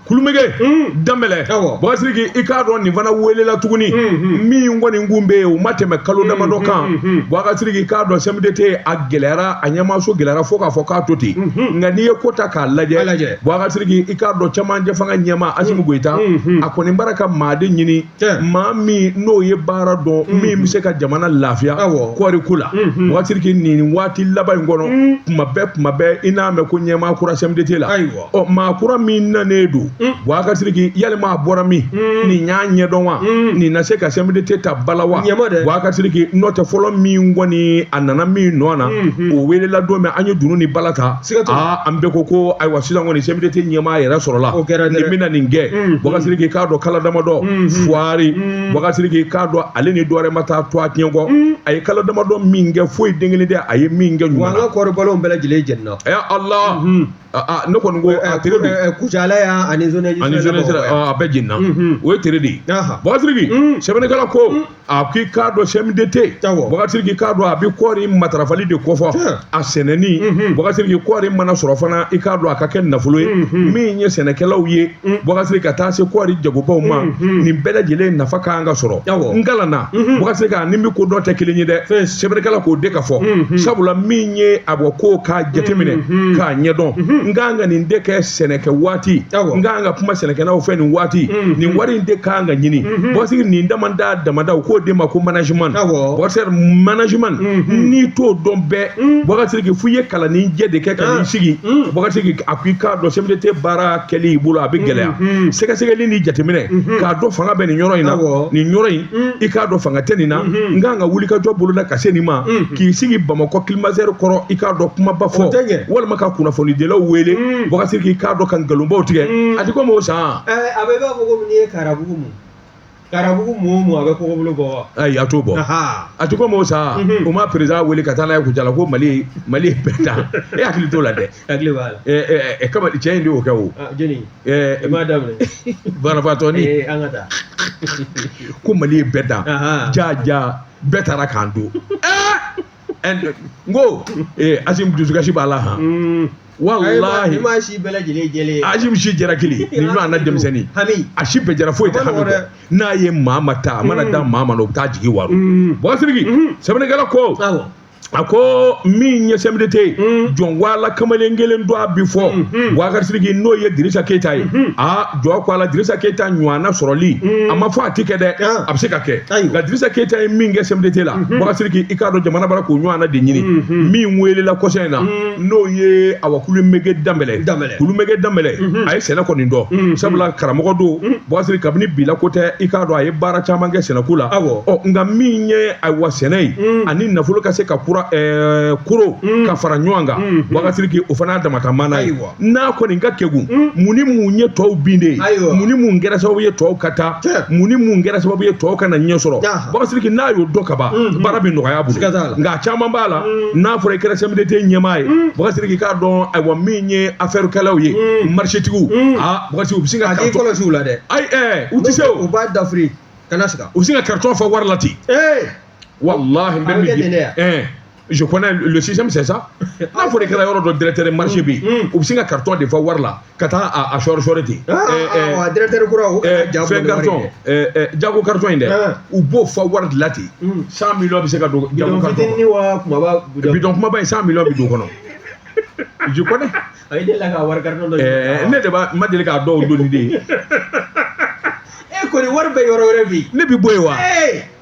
kulumɛgɛ danbɛlɛ Boubacar Sidiki i k'a dɔn nin fana welela tuguni min kɔni kun bɛ yen o ma tɛmɛ kalo damadɔ kan Boubacar Sidiki i k'a dɔn CMDT a gɛlɛyara a ɲɛmaaso gɛlɛyara fo k'a fɔ k'a to ten nka n'i ye ko ta k'a lajɛ Boubacar Sidiki i k'a dɔn camancɛ fanga ɲɛmaa asimi goyita a kɔni b'a la ka maaden ɲini maa min n'o ye baara dɔn min bɛ se ka jamana lafiya kɔɔri ko la Boubacar Sidiki nin waati laban in kɔnɔ tuma bɛɛ tuma bɛɛ i n'a mɛn ko ɲɛmaa kura CMDT la ɔ maa kura min nanen don Boubacar Sidiki yalima a bɔra min nin y'a ɲɛdɔn wa nin na se ka CMDT ta bala wa Ɲɛma dɛ. Boubacar Sidiki n'o tɛ fɔlɔ min kɔni a nana min nɔ na o welela don min an ye dunu ni bala ta Siga t'o la. aa an bɛɛ ko ko ayiwa sisan kɔni CMDT ɲɛmaa yɛrɛ sɔrɔla O kɛra dɛ. nin bɛna nin kɛ Boubacar Sidiki k'a dɔn kalo damadɔ fuwari Boubacar Sidiki k'a dɔn ale ni dɔwɛrɛ ma taa to a tiɲɛ kɔ a ye kalo damadɔ min kɛ foyi den kelen tɛ a ye min kɛ ɲuman na wa an ka kɔɔri balow bɛɛ lajɛlen jenina ya allah ne kɔni ko a tere de kucala y' ani a bɛɛ jenina o ye tere de ye Boubacar Sidiki sɛbɛnnikɛla ko a ko i k'a dɔn CMDT Boubacar Sidiki i k'a dɔn a bɛ kɔɔri matarafali de kofɔ a sɛnɛni Boubacar Sidiki kɔɔri mana sɔrɔ fana i k'a dɔn a ka kɛ nafolo ye min ye sɛnɛkɛlaw ye Mm. Boubacar Sidiki ka taa se kɔɔri jagobaw ma mm-hmm. nin bɛɛ lajɛlen nafa ka kan ka sɔrɔ n kalanna mm-hmm. Boubacar Sidiki ni n bɛ ko dɔn tɛ kelen ye dɛ sɛbɛnnikɛla k'o de ka fɔ mm-hmm. sabula min ye a bɔ ko k'a jateminɛ k'a ɲɛdɔn n ka kan ka nin de kɛ sɛnɛkɛ waati n ka kan ka kuma sɛnɛkɛlaw fɛ nin waati nin wari in de ka kan ka ɲini Boubacar Sidiki nin damada damada u k'o de ma ko management Boubacar Sidiki management n'i t'o dɔn bɛɛ Boubacar Sidiki fo i ye kalanni jɛ de kɛ ka n'i sigi Boubacar Sidiki a ko i k'a dɔn CMDT baara kɛli i bolo a bɛ gɛlɛya mm-hmm. sɛgɛsɛgɛli ni jateminɛ mm-hmm. k'a dɔn fanga bɛ nin yɔrɔ in na nin yɔrɔ in mm-hmm. i k'a dɔn fanga tɛ nin na n kan ka wuli ka jɔ bolo la ka se nin ma k'i sigi bamakɔ kilimazɛri kɔrɔ i k'a dɔn kumaba fɔ walima ka kunnafonidilaw wele mm. Boubacar Sidiki i k'a dɔn ka nkalonbaw tigɛ mm. a ti komi o san. Eh, a bɛ i b'a fɔ ko n'i ye karabugu mu. garabugu mɔɔ mɔɔ a bɛ kɔgɔbolo bɔ wa ayi a t'o bɔ Ahaa. a tɛ komi o sa Mhm. u ma perezidan wele ka taa n'a ye kucala ko mali mali ye bɛɛ ta e hakili t'o la dɛ hakili b'a la Ɛ, ɛ, ɛ, kama cɛ in de y'o kɛ o Ah, jeni i Ɛ, m'a daminɛ banabaatɔ ni Eh, an ka taa ko mali ye bɛɛ ta Ahaa. jaa jaa bɛɛ taara k'an to n ko Asimi dusukasi b'a la han walahi Asimi si jɛra kelen ni ɲɔgɔn na denmisɛnnin a si bɛɛ jɛra foyi tɛ hami dɛ n'a ye maa ma ta a mana da maa ma o bɛ taa jigi waaro Boubacar Sidiki sɛbɛnnikɛla ko a ko min ye CMDT jɔn wala kamalen kelen don a bi fɔ Boubacar Sidiki n'o ye Dirisa Keyita ye jɔ ko ala Dirisa Keyita ɲɔana sɔrɔli mm. a ma fɔ a ti kɛ dɛ ah. a bɛ se ka kɛ nka Dirisa Keyita ye min kɛ CMDT la mm-hmm. Boubacar Sidiki i k'a dɔn jamana bara k'o ɲɔana de ɲini mm-hmm. min weelela kɔsa in na mm. n'o ye awa Kulumege Danbɛlɛ Kulumege Danbɛlɛ mm-hmm. a ye sɛnɛ kɔni dɔn sabula karamɔgɔ don mm. Bɔkasiri kabini bila ko tɛ i k'a dɔn a ye baara caman kɛ sɛnɛko la ɔ nka min ye ayiwa sɛnɛ ye ani nafolo ka se ka kura eh, kuru ka fara ɲɔgɔn kan Boubacar Sidiki o fana y'a dama ta maana ye n'a kɔni ka kegun hmm. mun ni mun ye tɔw bin de ye mun ni mun kɛra sababu ye tɔw ka taa mun ni mun kɛra sababu ye tɔw kana ɲɛ sɔrɔ Boubacar Sidiki n'a y'o dɔn ka ban hmm, hmm. baara bɛ nɔgɔya a bolo nka a caman b'a la n'a fɔra i kɛra CMDT ɲɛmaa ye Boubacar Sidiki k'a dɔn ayiwa min ye affaire kɛlaw ye marchétigiw aa Boubacar Sidiki u bɛ sin ka k'i kɔlɔsi u la dɛ ayi ɛɛ u tɛ se o u b'a dafiri kana siga u bɛ sin ka carton fa wari la ten ee walahi n bɛ min di ɛɛ je connais le système c'est ça n'a fɔra i kɛra yɔrɔ dɔ directeur marché bi mm. u bɛ sin ka carton de fa wari la ka taa a a sɔri sɔri ten directeur kura o fɛn carton jago carton in dɛ u b'o fa wari la ten mm. cent millions bɛ se ka don jago carton kɔnɔ bidɔn kumaba in cent millions bɛ don o kɔnɔ je connais ne de b'a ma deli k'a dɔw donni de ye e kɔni wari bɛ yɔrɔ wɛrɛ bi ne bɛ bɔ yen wa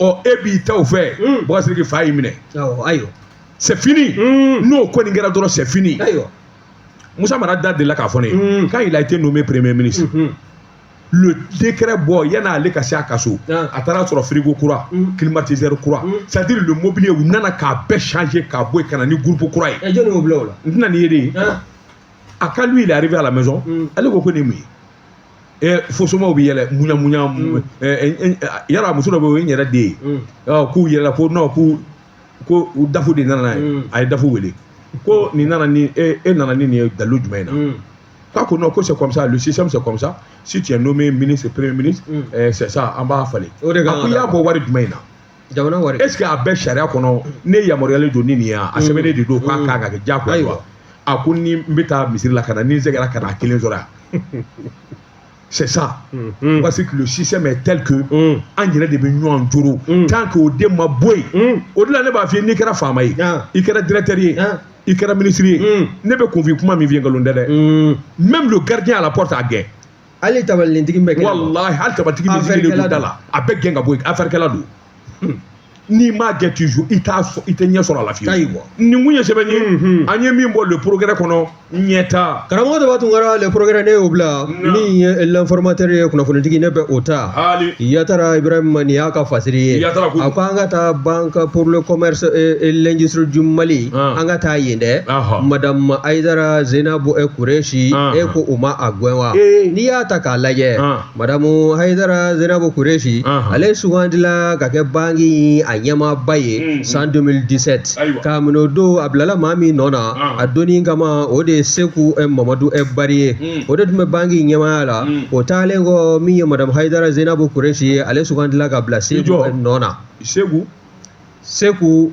ɔ e b'i ta o fɛ mm. Boubacar Sidiki fa y'i minɛ ayiwa c'est fini mm. n'o kɔni kɛra dɔrɔn c'est fini ayiwa Musa Mara da delila k'a fɔ ne ye mm. quand il a été nommé premier ministre mm-hmm. le décret bɔ yan'ale ka se a ka so ah. a taara sɔrɔ frigo kura mm. climatiseur kura mm. c'est à dire le mobilier u nana k'a bɛɛ changer k'a bɔ yen ka na ni groupe kura ye eh, jɔni y'o bila o la n tɛna nin ye de ah. quand lui il est arrivé à la maison ale ko ko nin ye mun ye ɛ fo somaaw bɛ yɛlɛ muɲamuɲa mm. ɛ yala muso dɔ bɛ yen o ye n yɛrɛ den ye mm. k'o yɛlɛla ko non k'u ko DAF de nana n'a ye mm. a ye DAF wele ko nin nana ni e e nana ni nin ye dalilu jumɛn in na k'a ko non ko c'est comme ça le système c'est comme ça si tu es nommé ministre premier ministre c'est ça an b'a falen a ko i y'a bɔ wari jumɛn in na jamana wari est ce que a bɛ sariya kɔnɔ ne yamaruyalen don ni nin ye a mm. sɛbɛnnen de don k'a mm. kan ka kɛ diyagoya ye wa a ko ni n bɛ taa misiri la ka na ni n sɛgɛra kana a kelen sɔrɔ yan c'est ça mm. parce que le système est tel que an yɛrɛ de bɛ ɲɔgɔn joro tant que o den ma bɔ yen o de la ne b'a f'i ye n'i kɛra faama ye ah. i kɛra directeur ye ah. i kɛra ministre ye ne bɛ kunfin kuma min f'i ye nkalon tɛ dɛ même le gardien à la porte a gɛn hali tabalinintigi bɛ gɛn walahi hali tabalitigi bɛ sigilen don da la a bɛ gɛn ka bɔ yen afɛrikɛla don hmm. n'i m'a gɛn toujours i tɛ ɲɛ sɔrɔ a la fiyewu ayiwa nin kun ye sɛbɛn ye hmm. an ye min bɔ le progrès kɔnɔ ɲɛta karamɔgɔ daba tunkara le progrès ne y'o bila min ye l'informateur ye kunnafonitigi ne bɛ o ta yatara ibrahima nin y'a ka fasiri ye a ko an ka taa banque pour le commerce et l'industrie du mali an ka taa yen dɛ madamu ayidara zenabu e kureshi e ko u ma a gɛn wa n'i y'a ta k'a lajɛ madamu ayidara zenabu kureshi ale sugandila ka kɛ banki a ɲɛmaaba ye san 2017 k'a minɛ o don a bilala maa min nɔ na a donni kama o de ye seku mamadu e bari ye o de tun bɛ banki ɲɛmaaya la o taalen kɔ min ye madamu ayidara zenabu kureshi ye ale sugandila ka bila seku nɔ na seku seku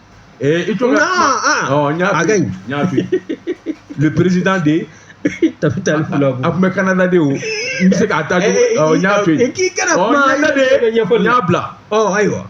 I to a président de ta taa a tun bɛ kanada de o n bɛ se k'a taa bila ayiwa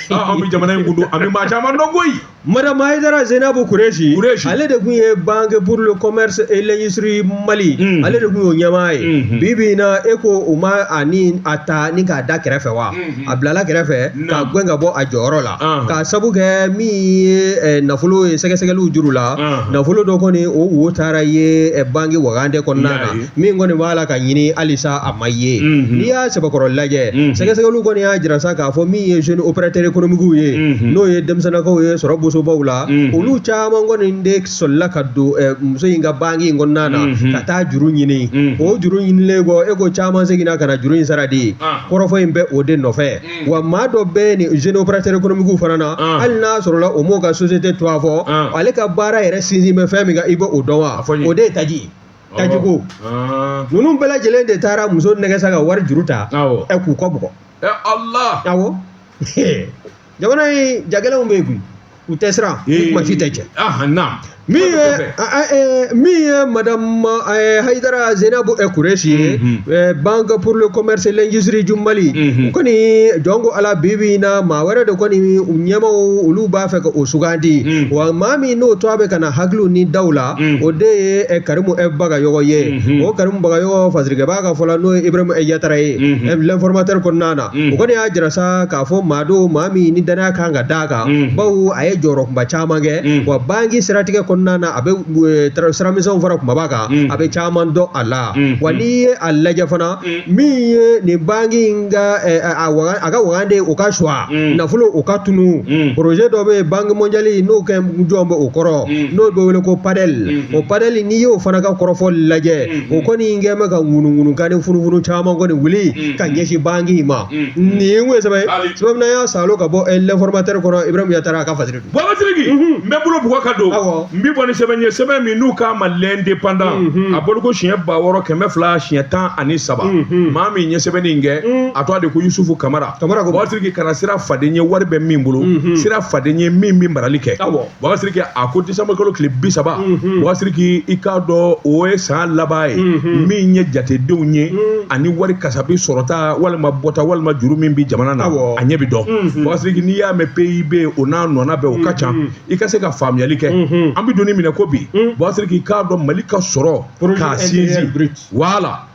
an bɛ jamana in kun dɔn an bɛ maa caman dɔn koyi madamu ayidara zenabu kureshi ale de kun ye banque pour le commerce et l'industrie mali ale de kun y'o ɲɛmaa ye bi bi in na e ko u ma a ta ni k'a da kɛrɛfɛ wa a bilala kɛrɛfɛ k'a gɛn ka bɔ a jɔyɔrɔ la k'a sabu kɛ min ye nafolo ye sɛgɛsɛgɛliw juru la nafolo dɔ kɔni o wo taara ye banki wagande kɔnɔna na min kɔni b'a la ka ɲini halisa a ma ye n'i y'a sɛbɛkɔrɔ lajɛ sɛgɛsɛgɛliw kɔni y'a jira sa k'a fɔ min ye jeune opérateur économique ye n'o ye denmisɛnnakaw ye sɔrɔ bosobaw la olu caman kɔni de solila ka don eh, muso in ka banki in kɔnɔna na mhm. ka taa juru ɲini mhm. o juru ɲinilen kɔ e ko caman seginna ka na juru in sara de ah. kɔrɔfɔ in bɛ o de nɔfɛ mm. wa maa dɔ bɛ nin jeune opérateur économique fana na ah. hali n'a sɔrɔla o m'o ka société tɔgɔ fɔ ah. ale ka baara yɛrɛ sinsin bɛ fɛn min kan i bɛ o dɔn wa o de ye taji ye tajiko ninnu bɛɛ lajɛlen de taara muso nɛgɛn sa ka wari juru ta ɛ k'u kɔ bugɔ awɔ jamana in jagɛlɛnw bɛ yen koyi u tɛ siran u kuma si tɛ cɛ Ah, naam. min ye Kɔfɛ. a- a- ɛɛ, min ye madame ɛɛ, hayidara zenabu ɛ kureshi ye Mhm. ɛɛ, banque pour le commerce et l'industrie du mali Mhm. u kɔni jɔn ko ala bi bi in na maa wɛrɛ de kɔni u ɲɛmaaw olu b'a fɛ ka o sugandi Mhm. wa maa min n'o tɔgɔ bɛ ka na hakiliw ni daw la Mhm. o de ye ɛ, karimu ɛ bagayɔgɔ ye Mhm. o karimu bagayɔgɔ fasirikɛbaa ka fɔ la n'o ye ibrahima ɛ yatara ye Mhm. ɛ, l'informateur kɔnɔna na Mm. o kɔni y'a jira sa k'a fɔ maa don maa min ni danaya kan ka d'a kan Mm. bawo a ye jɔyɔrɔ kunba caman kɛ Mm. wa banki siratigɛ kɔnɔna na a bɛ eh, tra- siramisɛnw fara kumaba kan Mm. a bɛ caman dɔn a la Mm. wa n'i ye a lajɛ fana Mm. min ye nin banki in ka eh, a a waga- a ka wagande o ka suwa Mm. nafolo o ka tunu Mm. projet dɔ bɛ yen banque mondiale n'o kɛ jɔn bɛ o kɔrɔ Mm. n'o bɛ wele ko padɛl Mm. o padɛl n'i y'o fana ka kɔrɔfɔ lajɛ Mm. o kɔni kɛ bɛ ka ŋunuŋunukan ni funufunu caman kɔni wuli ka ɲɛsin banki in ma nin ye sɛbɛn ye sa min n'an y'a salo ka bɔ l'informateur kɔnɔ ibrahim yatara a ka fasiri don bubakar sidiki n bɛ bolo buga ka don n bɛ bɔ ni sɛbɛn ye sɛbɛn min n'u k'a ma l'indépendant a bɔli ko siɲɛ ba wɔɔrɔ kɛmɛ fila siɲɛ tan ani saba maa min ɲɛ sɛbɛnni kɛ a tɔgɔ de ko yusufu kamara bubakar sidiki kana siran faden ɲɛ wari bɛ min bolo siran faden ɲɛ min bɛ marali kɛ Bubakar sidiki a ko décembre kalo tile bi saba bubakar sidiki i k'a dɔn o ye san laban ye min ye jatedenw ye ani wari kasabi sɔrɔta walima bɔta walima juru min bɛ jamana na a ɲɛ bɛ dɔn bubakar sidiki n'i y'a mɛn PIB o n'a nɔna bɛɛ o ka ca i ka se ka faamuyali kɛ an bɛ don min na ko bi bubakar sidiki i k'a dɔn mali ka sɔrɔ k'a sinsin wala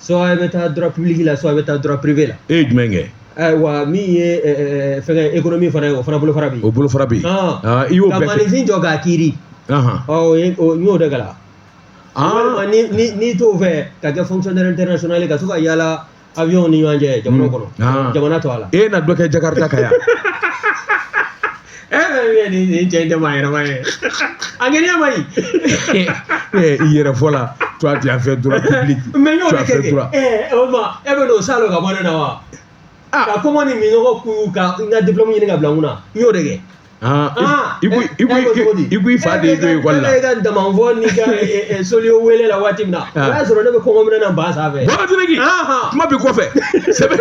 Sɔ e bɛ taa dɔrɔnpiliki la sɔ bɛ taa dɔrɔnpribi bɛ la e ye jumɛn kɛ wa min ye fɛn e min fana ye o fana bolo fara bi o bolo fara bi i y'o kafin jɔ k'a kiiri y'o de ga n'i t'o fɛ ka kɛ fɛn tɛ sɔnli ka to ka yalala a bɛ ni ɲɔgɔn cɛ jamana kɔnɔ jamana to a la e na dɔ kɛ ja ka yan nin cɛ in tɛ maa yɛrɛma ye a kɛɲɛ man ɲi i yɛrɛ fɔ la toi tu as fait droit public mais n y'o de kɛ kɛ ɛ o ma e bɛ n'o salo ka bɔ ne na wa ka kɔngɔ ni minnɔgɔ kun ka n ka diplôme ɲini ka bila n kunna n y'o de kɛ i ko i fa de y'i to ekɔli la e ka damanfɔ n'i ka soliyo welela waati min na o y'a sɔrɔ ne bɛ kɔngɔ minɛ na ba sanfɛ kuma b'i kɔfɛ sɛbɛn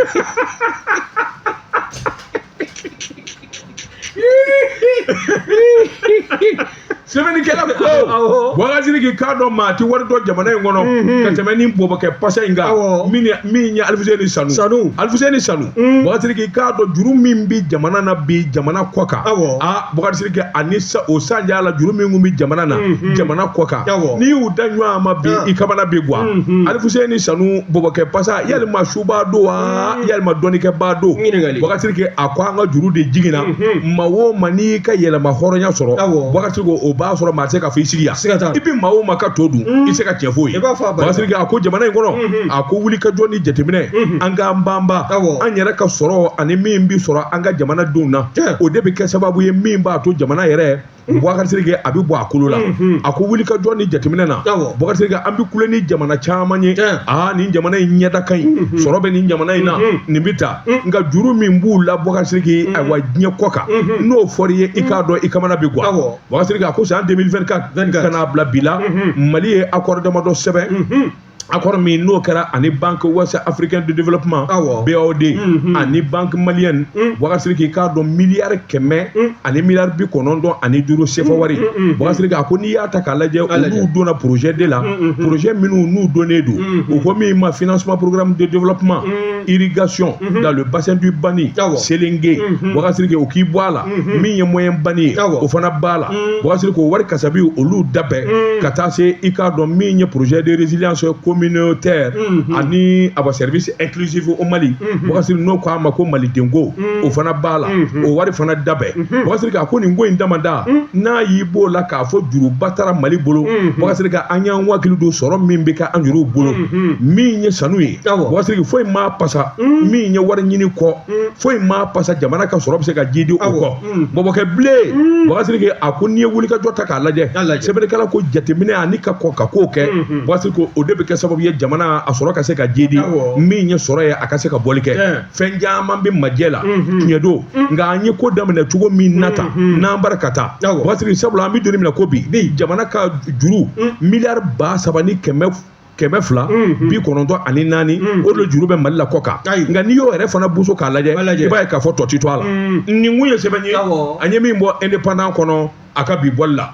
sɛbɛnnikɛla ko awɔ bubakar sidiki i k'a dɔn maa ti wari dɔn jamana in kɔnɔ ka tɛmɛ ni bɔbɔkɛ pasa in kan Awɔ. min ye- min ye alifuseni sanu Sanu. alifuseni sanu bubakar sidiki i k'a dɔn juru min bi jamana na bi jamana kɔ kan Awɔ. a bubakar sidiki ani sa- o sanjaya la juru min kun bi jamana na jamana kɔ kan Awɔ. n'i y'u da ɲɔgɔn ma bi Ah. i kamana bi gwan alifuseni sanu bɔbɔkɛ pasa yalima su ba don wa mm. yalima dɔnnikɛba don bubakar sidiki a ko an ka juru de jiginna mm-hmm. maa o maa n'i ka yɛrɛmahɔrɔnya sɔrɔ bubakar sidiki o b'a sɔrɔ maa tɛ se k'a fɔ i sigi yan i bɛ maa o maa ka to dun mm. i tɛ se ka tiɲɛ f'o ye bubakar sidiki a ko jamana in kɔnɔ mm-hmm. a ko wuli ka jɔ ni jateminɛ mm-hmm. an k'an banba an yɛrɛ ka sɔrɔ ani min bɛ sɔrɔ an ka jamana denw na o de bɛ kɛ sababu ye min b'a to jamana yɛrɛ Boubacar Sidiki a bɛ bɔ a kolo la a ko wuli ka jɔ ni jateminɛ na Boubacar Sidiki an bɛ kule ni jamana caman ye aa nin jamana in ɲɛda ka ɲi sɔrɔ bɛ nin jamana in na nin bɛ taa nka juru min b'u la Boubacar Sidiki ayiwa diɲɛ kɔ kan n'o fɔra i ye i k'a dɔn i kamana bɛ gan Boubacar Sidiki a ko san 2024 ka n'a bila bi la Mali ye accord damadɔ sɛbɛn. accord min n'o kɛra ani banque ouest africaine de développement awɔ BOAD mhm. ani banque malienne mhm. Boubacar Sidiki k'a dɔn miliyari kɛmɛ mhm. ani miliyari bi kɔnɔntɔn ani duuru sefa wari Boubacar Sidiki a ko n'i y'a ta k'a lajɛ olu donna projet de la projet minnu n'u donnen don u ko min ma financement programme de développement irrigation dans le bassin du Bani Sélingué Boubacar Sidiki o k'i bɔ a la min ye moyen Bani ye o fana b'a la Boubacar Sidiki o wari kasabi olu dabɛn mm. ka taa se i k'a dɔn min ye projet de résilience communautaire mm-hmm. ani a ba service inclusif au Mali mm-hmm. Boubacar Sidiki n'o k'a ma ko malidenko mm. o fana b'a la mm-hmm. o wari fana dabɛn Boubacar Sidiki a ko nin ko in damada mm. n'a y'i b'o la k'a fɔ juruba taara Mali bolo Boubacar Sidiki an y'an hakili don sɔrɔ min bɛ ka an juruw bolo min ye sanu ye Boubacar Sidiki foyi m'a pasa min ye wari ɲini kɔ foyi m'a pasa jamana ka sɔrɔ bɛ se ka jidi o kɔ Mm. bɔbɔkɛ bilen mm. Boubacar Sidiki a ko n'i ye wulikajɔ ta k'a lajɛ sɛbɛnnikɛla ko jateminɛ ani ka kɔn ka ko kɛ mm-hmm. Boubacar Sidiki o de bɛ kɛ sababu ye jamana a sɔrɔ ka se ka jidi min ye sɔrɔ ye a ka se ka bɔli kɛ fɛn caman bɛ majɛ la mm-hmm. tiɲɛ don mm. nka an ye ko daminɛ cogo min na tan mm-hmm. n'an bara ka taa Boubacar Sidiki sabula an bɛ don min na ko bi jamana ka juru miliyari ba saba ni kɛmɛ kɛmɛ fila bi kɔnɔntɔn ani naani o de juru bɛ mali la kɔ kan nka n'i y'o yɛrɛ fana boso k'a lajɛ i b'a ye k'a fɔ tɔti to a la nin kun ye sɛbɛn ye an ye min bɔ Indépendant kɔnɔ a ka bi bɔli la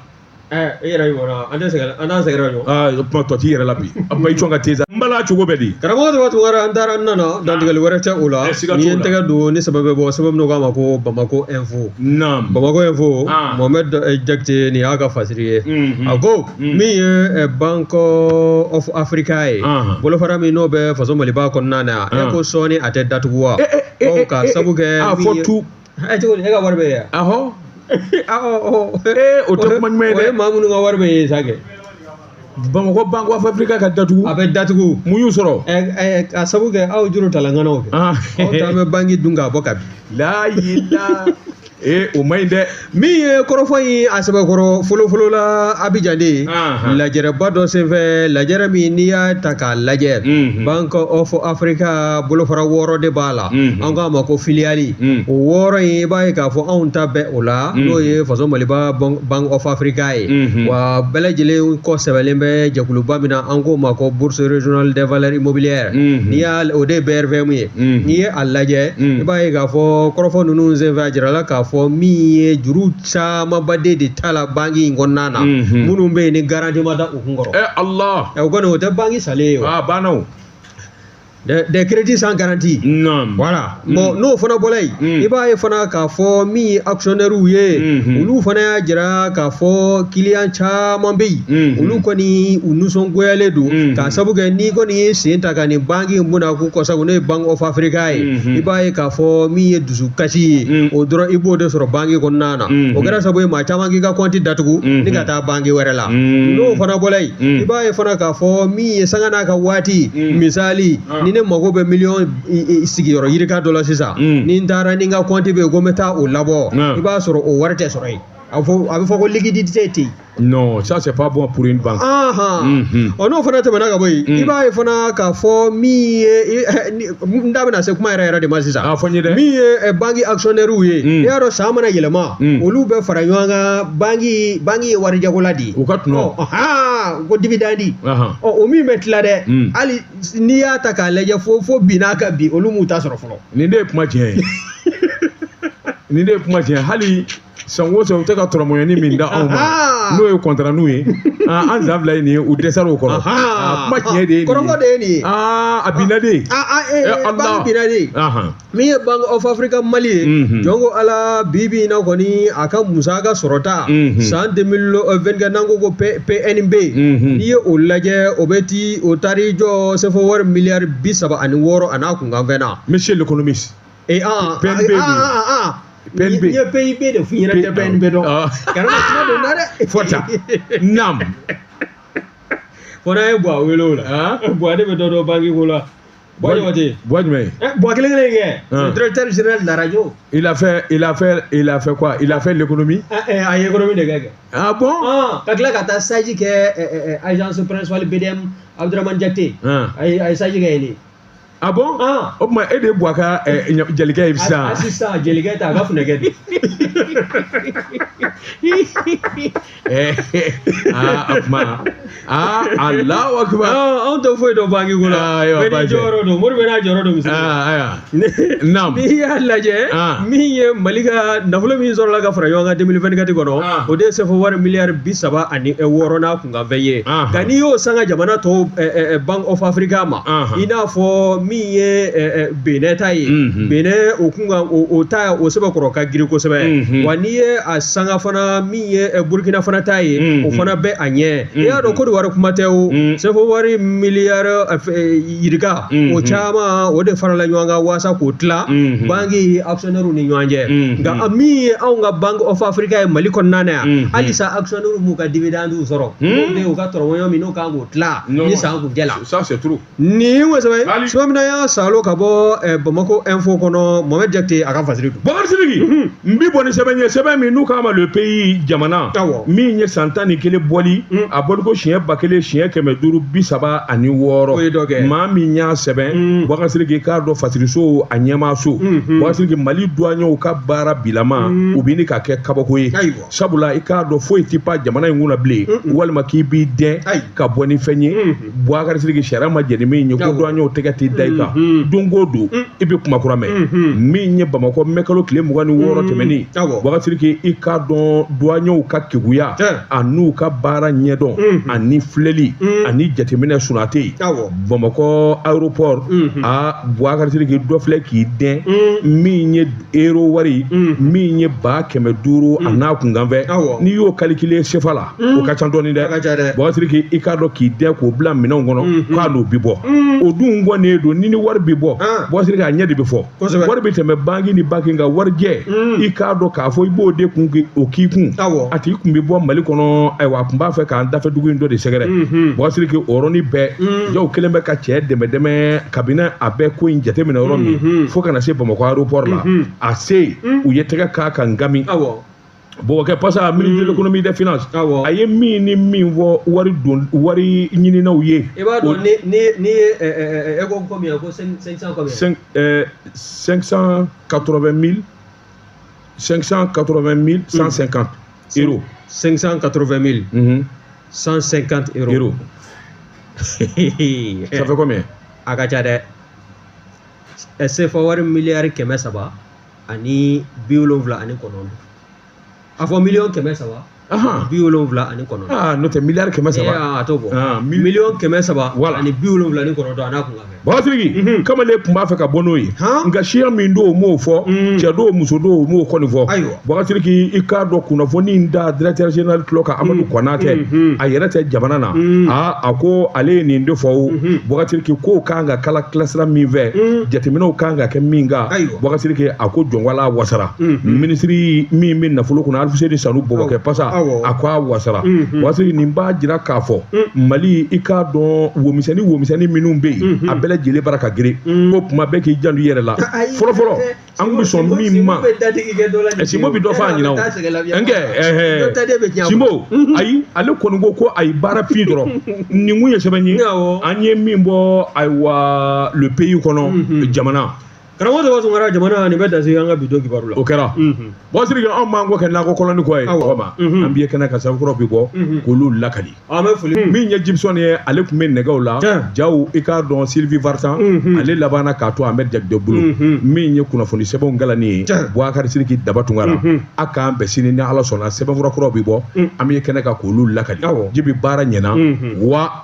e yɛrɛ an an sɛgɛn kuma tɔti yɛrɛ la bi a ma i jɔn ka te n bala cogo bɛ di karamɔgɔ wɛrɛ an taara nana dantigɛli wɛrɛ tɛ o la n ye tɛgɛ don ni sɛbɛn bɛ bɔ sɛbɛn min k'a ma ko Bamako Info Bamako Info Mohamed Jakite nin y'a ka fasiri ye a ko Hmm. min ye eh, bank of africa ye bolofara min n'o bɛ faso maliba kɔnɔna na e ko sɔɔni a tɛ datugu wa eh, eh, ka sabu kɛ a fɔ tu e cogo e ka wari bɛ ye ahɔ o tɛ kuma ɲuman ye dɛ o ye maa minnu ka wari bɛ ye sa kɛ bamakɔ bank of africa ka datugu a bɛ datugu mun y'u sɔrɔ ka sabu kɛ aw juru talanganaw kɛ aw t'an bɛ banki dun k'a bɔ ka bin layi la ee o man ɲi dɛ min ye kɔrɔfɔ in a sɛbɛkɔrɔ fɔlɔfɔlɔ la abijan de ye Anhan. lajɛrɛba dɔ senfɛ lajɛrɛ min n'i y'a ta k'a lajɛ Mhm. bank of africa bolofara wɔɔrɔ de b'a la Mhm. an k'a ma ko filiyali Mhm. o wɔɔrɔ in i b'a ye k'a fɔ anw ta bɛ o la Mhm. n'o ye faso maliba Ban- bank of africa ye Mhm. wa bɛɛ lajɛlen kɔ sɛbɛnnen bɛ jɛkuluba min na an k'o ma ko bourse régionale des valeurs immobilières Mhm. n'i y'a o de ye brvm ye n'i ye a lajɛ i b'a ye k'a fɔ kɔrɔfɔ ninnu senfɛ a jirala k'a fɔ min ye juru camanba de tala banki in kɔnɔna na minnu bɛ yen ni garanti ma da u kun kɔrɔ o kɔni o tɛ banki salen ye wa banna o des crédits sans garantie non voilà mm. bon n'o fana bɔra yen mm. i b'a ye fana k'a fɔ min ye actionnaire ye mm-hmm. olu fana y'a jira k'a fɔ kiliyan caman bɛ yen mm-hmm. olu kɔni u nisɔngoyalen don mm-hmm. k'a sabu kɛ n'i kɔni y'i sen ta A ka nin banki in bɛna k'u kɔ sabu n'o ye Bank of Africa ye i b'a ye k'a fɔ min ye dusukasi ye o dɔrɔn i b'o de sɔrɔ banki kɔnɔna na o kɛra sabu ye maa caman k'i ka kɔnti datugu ni ka taa banki wɛrɛ la n'o fana bɔra yen i b'a ye fana k'a fɔ min ye sanga n'a ka waati misali ni ne mago bɛ miliyɔn sigiyɔrɔ yirika dɔ la sisan ni n taara ni n ka kɔnti bɛ yen ko n bɛ taa o labɔ i b'a sɔrɔ o wari tɛ sɔrɔ yen a bɛ fɔ ko liquidité tɛ yen non ça c'est pas bon pour une banque mhm. ɔ n'o fana tɛmɛna ka bɔ yen i mm. b'a ye fana k'a fɔ min ye eh, n da bɛna se kuma yɛrɛ yɛrɛ de ma sisan ah, min ye eh, banki actionnairew ye mm. n'i y'a dɔn san mana yɛlɛma mm. olu bɛ fara ɲɔgɔn kan banki banki ye warijagola de ye u ka tɔnɔ ko dividende ɔ o min bɛ tila dɛ hali n'i y'a ta k'a lajɛ fo fo bi n'a ka bi olu m'u ta sɔrɔ fɔlɔ nin de ye kuma tiɲɛ ye nin de ye kuma tiɲɛ hali san o san u tɛ ka tɔrɔmɔɲɔni min d'anw ma n'o ye kɔntara ninnu ye an san fila ye nin ye u dɛsɛra o kɔrɔ kuma tiɲɛ de ye kɔrɔfɔ de ye nin ye a binna de banki binna de min ye Bank of Africa Mali ye jɔn ko Ala bi bi in na kɔni a ka musaka sɔrɔta san 2024 n'an ko ko PNB n'i ye o lajɛ o bɛ t'i o taara i jɔ sefa wari miliyari bi saba ani wɔɔrɔ a n'a kunkanfɛn na monsieur l'économiste ee aa PNB aa don. aa aa aa PNB. n ye PIB de f'i ɲɛ na i tɛ PNB dɔn Ɔ. kana kuma don na dɛ fɔta naam fo n'a ye Buwa wele o la Ɔn. Buwa de bɛ dɔ dɔn banki ko la Buwa ɲɔgɔn tɛ Buwa jumɛn ye Eh, Buwa kelen kelen kɛ Ɔn. le directeur général de la radio il a fait il a fait il a fait quoi il a fait l'économie Ah, eh, a ye économie de kɛ kɛ ah bon Ah, ka tila ka taa stage kɛ eh, eh, eh, agence principale BDM Abdourahmane Diakité Ɔn. a ye a ye stage kɛ yen de a ah bon ah. o tuma e de ye Buwa ka eh, jelikɛ ye sisan sisan jelikɛ tɛ a ka funɛkɛ de eh, ah, o tuma aa Allahu Akbar anw tɛ foyi dɔn banki ko la bɛɛ n'i jɔyɔrɔ don Mori bɛɛ n'a jɔyɔrɔ don misi ayiwa naamu n'i y'a lajɛ min ye mali ka nafolo min sɔrɔla ka fara ɲɔgɔn kan 2024 kɔnɔ o de ye sefa wari miliyari bi saba ani eh, wɔɔrɔ n'a kanfɛn ye nka n'i y'o sanga jamana tɔw bank of africa ma i n'a fɔ min ye benɛn ta ye benɛn o kunkan o ta o sɛbɛkɔrɔ ka girin kosɛbɛ wa n'i ye a sanga fana min ye burkina fana ta ye o fana bɛ a ɲɛ i y'a dɔn kodowari kuma tɛ o sefa wari miliyari yirika o caman o de farala ɲɔgɔn kan waasa k'o tila banki actionnaire ni ɲɔgɔn cɛ nka min ye anw ka bank of africa ye mali kɔnɔna na yan halisa n'olu m'u ka dividende sɔrɔ n'o de y'u ka tɔrɔgɔɲɔgɔn min n'u kan k'o tila ni san kun jɛla ça c'est trop nin ye sɛbɛn Mali. cogo min na y'a salo ka bɔ eh, bamako info kɔnɔ mohamed jakite a ka fasiri don Bakari Sidiki n bi bɔ ni sɛbɛn ye sɛbɛn min n'u k'a ma le pays jamana Awɔ. min ye san tan ni kelen bɔli a bɔliko siɲɛ ba kelen siɲɛ kɛmɛ duuru bi saba ani wɔɔrɔ O ye dɔ kɛ. maa min y'a sɛbɛn Bakari Sidiki i k'a dɔn fasiriso a ɲɛmaaso Bakari Sidiki Mali duwaɲɛw ka baara bilama o bɛ ɲini ka kɛ kabako ye Ayiwa. sabula i k'a dɔn foyi tɛ pan jamana in kunna bilen walima k'i b'i dɛn ka bɔ ni fɛn ye Bakari Sidiki sariya ma jɛn ni min ye ko duwanyew tɛgɛ tɛ da i kan don o don i bɛ kuma kura mɛn min ye bamakɔ mɛkalo tile mugan ni wɔɔrɔ tɛmɛnen Bakari Sidiki i k'a dɔn duwanyew ka keguya an'u ka baara ɲɛdɔn ani filɛli ani jateminɛ sunate bamakɔ aéroport a Bakari Sidiki dɔ filɛ k'i dɛn min ye ero wari mm. min ye ba kɛmɛ duuru mm. an'a kunkanfɛn n'i y'o kalikile sefa la mm. o ka ca dɔɔni dɛ Bakari Sidiki i k'a dɔn k'i dɛn k'o bila minɛnw kɔnɔ mm-hmm. k'a n'o bi bɔ o dun kɔnnen don ni ni wari bi bɔ ah. Bakari Sidiki a ɲɛ de bi fɔ wari bi tɛmɛ banki ni banki nka warijɛ i k'a dɔn k'a fɔ i b'o de kun o k'i kun a tigi kun bi bɔ mali kɔnɔ ayiwa a kun b'a fɛ k'an dafɛ dugu in dɔ de sɛgɛrɛ mm-hmm. Bakari Sidiki o yɔrɔnin bɛɛ jaa u kɛlen bɛ ka cɛ dɛmɛdɛmɛ kabini a bɛ ko in jateminɛ yɔrɔ min mhm. fo ka na se bamakɔ aéroport la mhm. a se mhm. u ye tɛgɛ k'a kan gami bon kɛ parce que a ministre de l'économie des finances a ye min ni min fɔ wari don wari ɲininaw ye i b'a dɔn ni ni ni ye eh, eh, eh, e ko combien ko 500 combien 580 mille 580 mille 150 euros 580 mille cent cinquante euros ça fait combien a ka ca dɛ sefa wari miliyari kɛmɛ saba ani bi wolonwula ani kɔnɔntɔn a fɔ miliyɔn kɛmɛ saba bi wolonwula ani kɔnɔntɔn n'o tɛ miliyari kɛmɛ saba a t'o bɔ miliyɔn kɛmɛ saba ani bi wolonwula ni kɔnɔntɔn an'a kunkan Bakari Sidiki mhm. kamalen tun b'a fɛ ka bɔ n'o ye nka siya min don o m'o fɔ mm. cɛ don muso don o m'o kɔni fɔ Bakari Sidiki i k'a dɔn kunnafoni in da directeur général tulo kan Amadu mm. Kɔnatɛ mm-hmm. a yɛrɛ tɛ jamana na mm. aa a ko ale ye nin de fɔ o mm-hmm. Bakari Sidiki kow kan ka kalakala sira min fɛ jateminɛw kan ka kɛ min kan Bakari Sidiki a ko jɔn ko Ala wasara minisiri min bɛ nafolo kunna aluseni sanu bɔbɔkɛ pasa a ko a wasara bɔsiriki nin b'a jira k'a fɔ mali i k'a dɔn womisɛnni womisɛnni minnu bɛ yen a bɛɛ lajɛlen bara ka girin ko kuma bɛɛ k'i janto i yɛrɛ la fɔlɔfɔlɔ an kun bɛ sɔn min ma simbo bɛ dɔ fɔ a ɲɛna o nkɛ ɛɛ simbo ayi ale kɔni ko ko ayi baara fin dɔrɔn nin kun ye sɛbɛn ye an ye min bɔ ayiwa le pays kɔnɔ jamana. karamɔgɔ daba tunkara jamana nin bɛ dan sigi an ka bi don kibaru la o kɛra bɔsiriki anw m'an kɔ kɛ nakɔ kɔlɔnni kɔ ye ma an bɛ ye kɛnɛ kan sɛbɛn kura bi bɔ k'olu lakali an bɛ foli min ye jibisɔn ye ale tun bɛ nɛgɛw la jaw i k'a dɔn sylvie vartan ale labanna k'a to amɛdi jakite bolo min ye kunnafoni sɛbɛnw kalanni ye buwakari siriki daba tunkara a k'an bɛn sini ni ala sɔnna sɛbɛnfura kura bɛ bɔ an bɛ ye kɛnɛ kan k'olu lakali jibi baara ɲɛna wa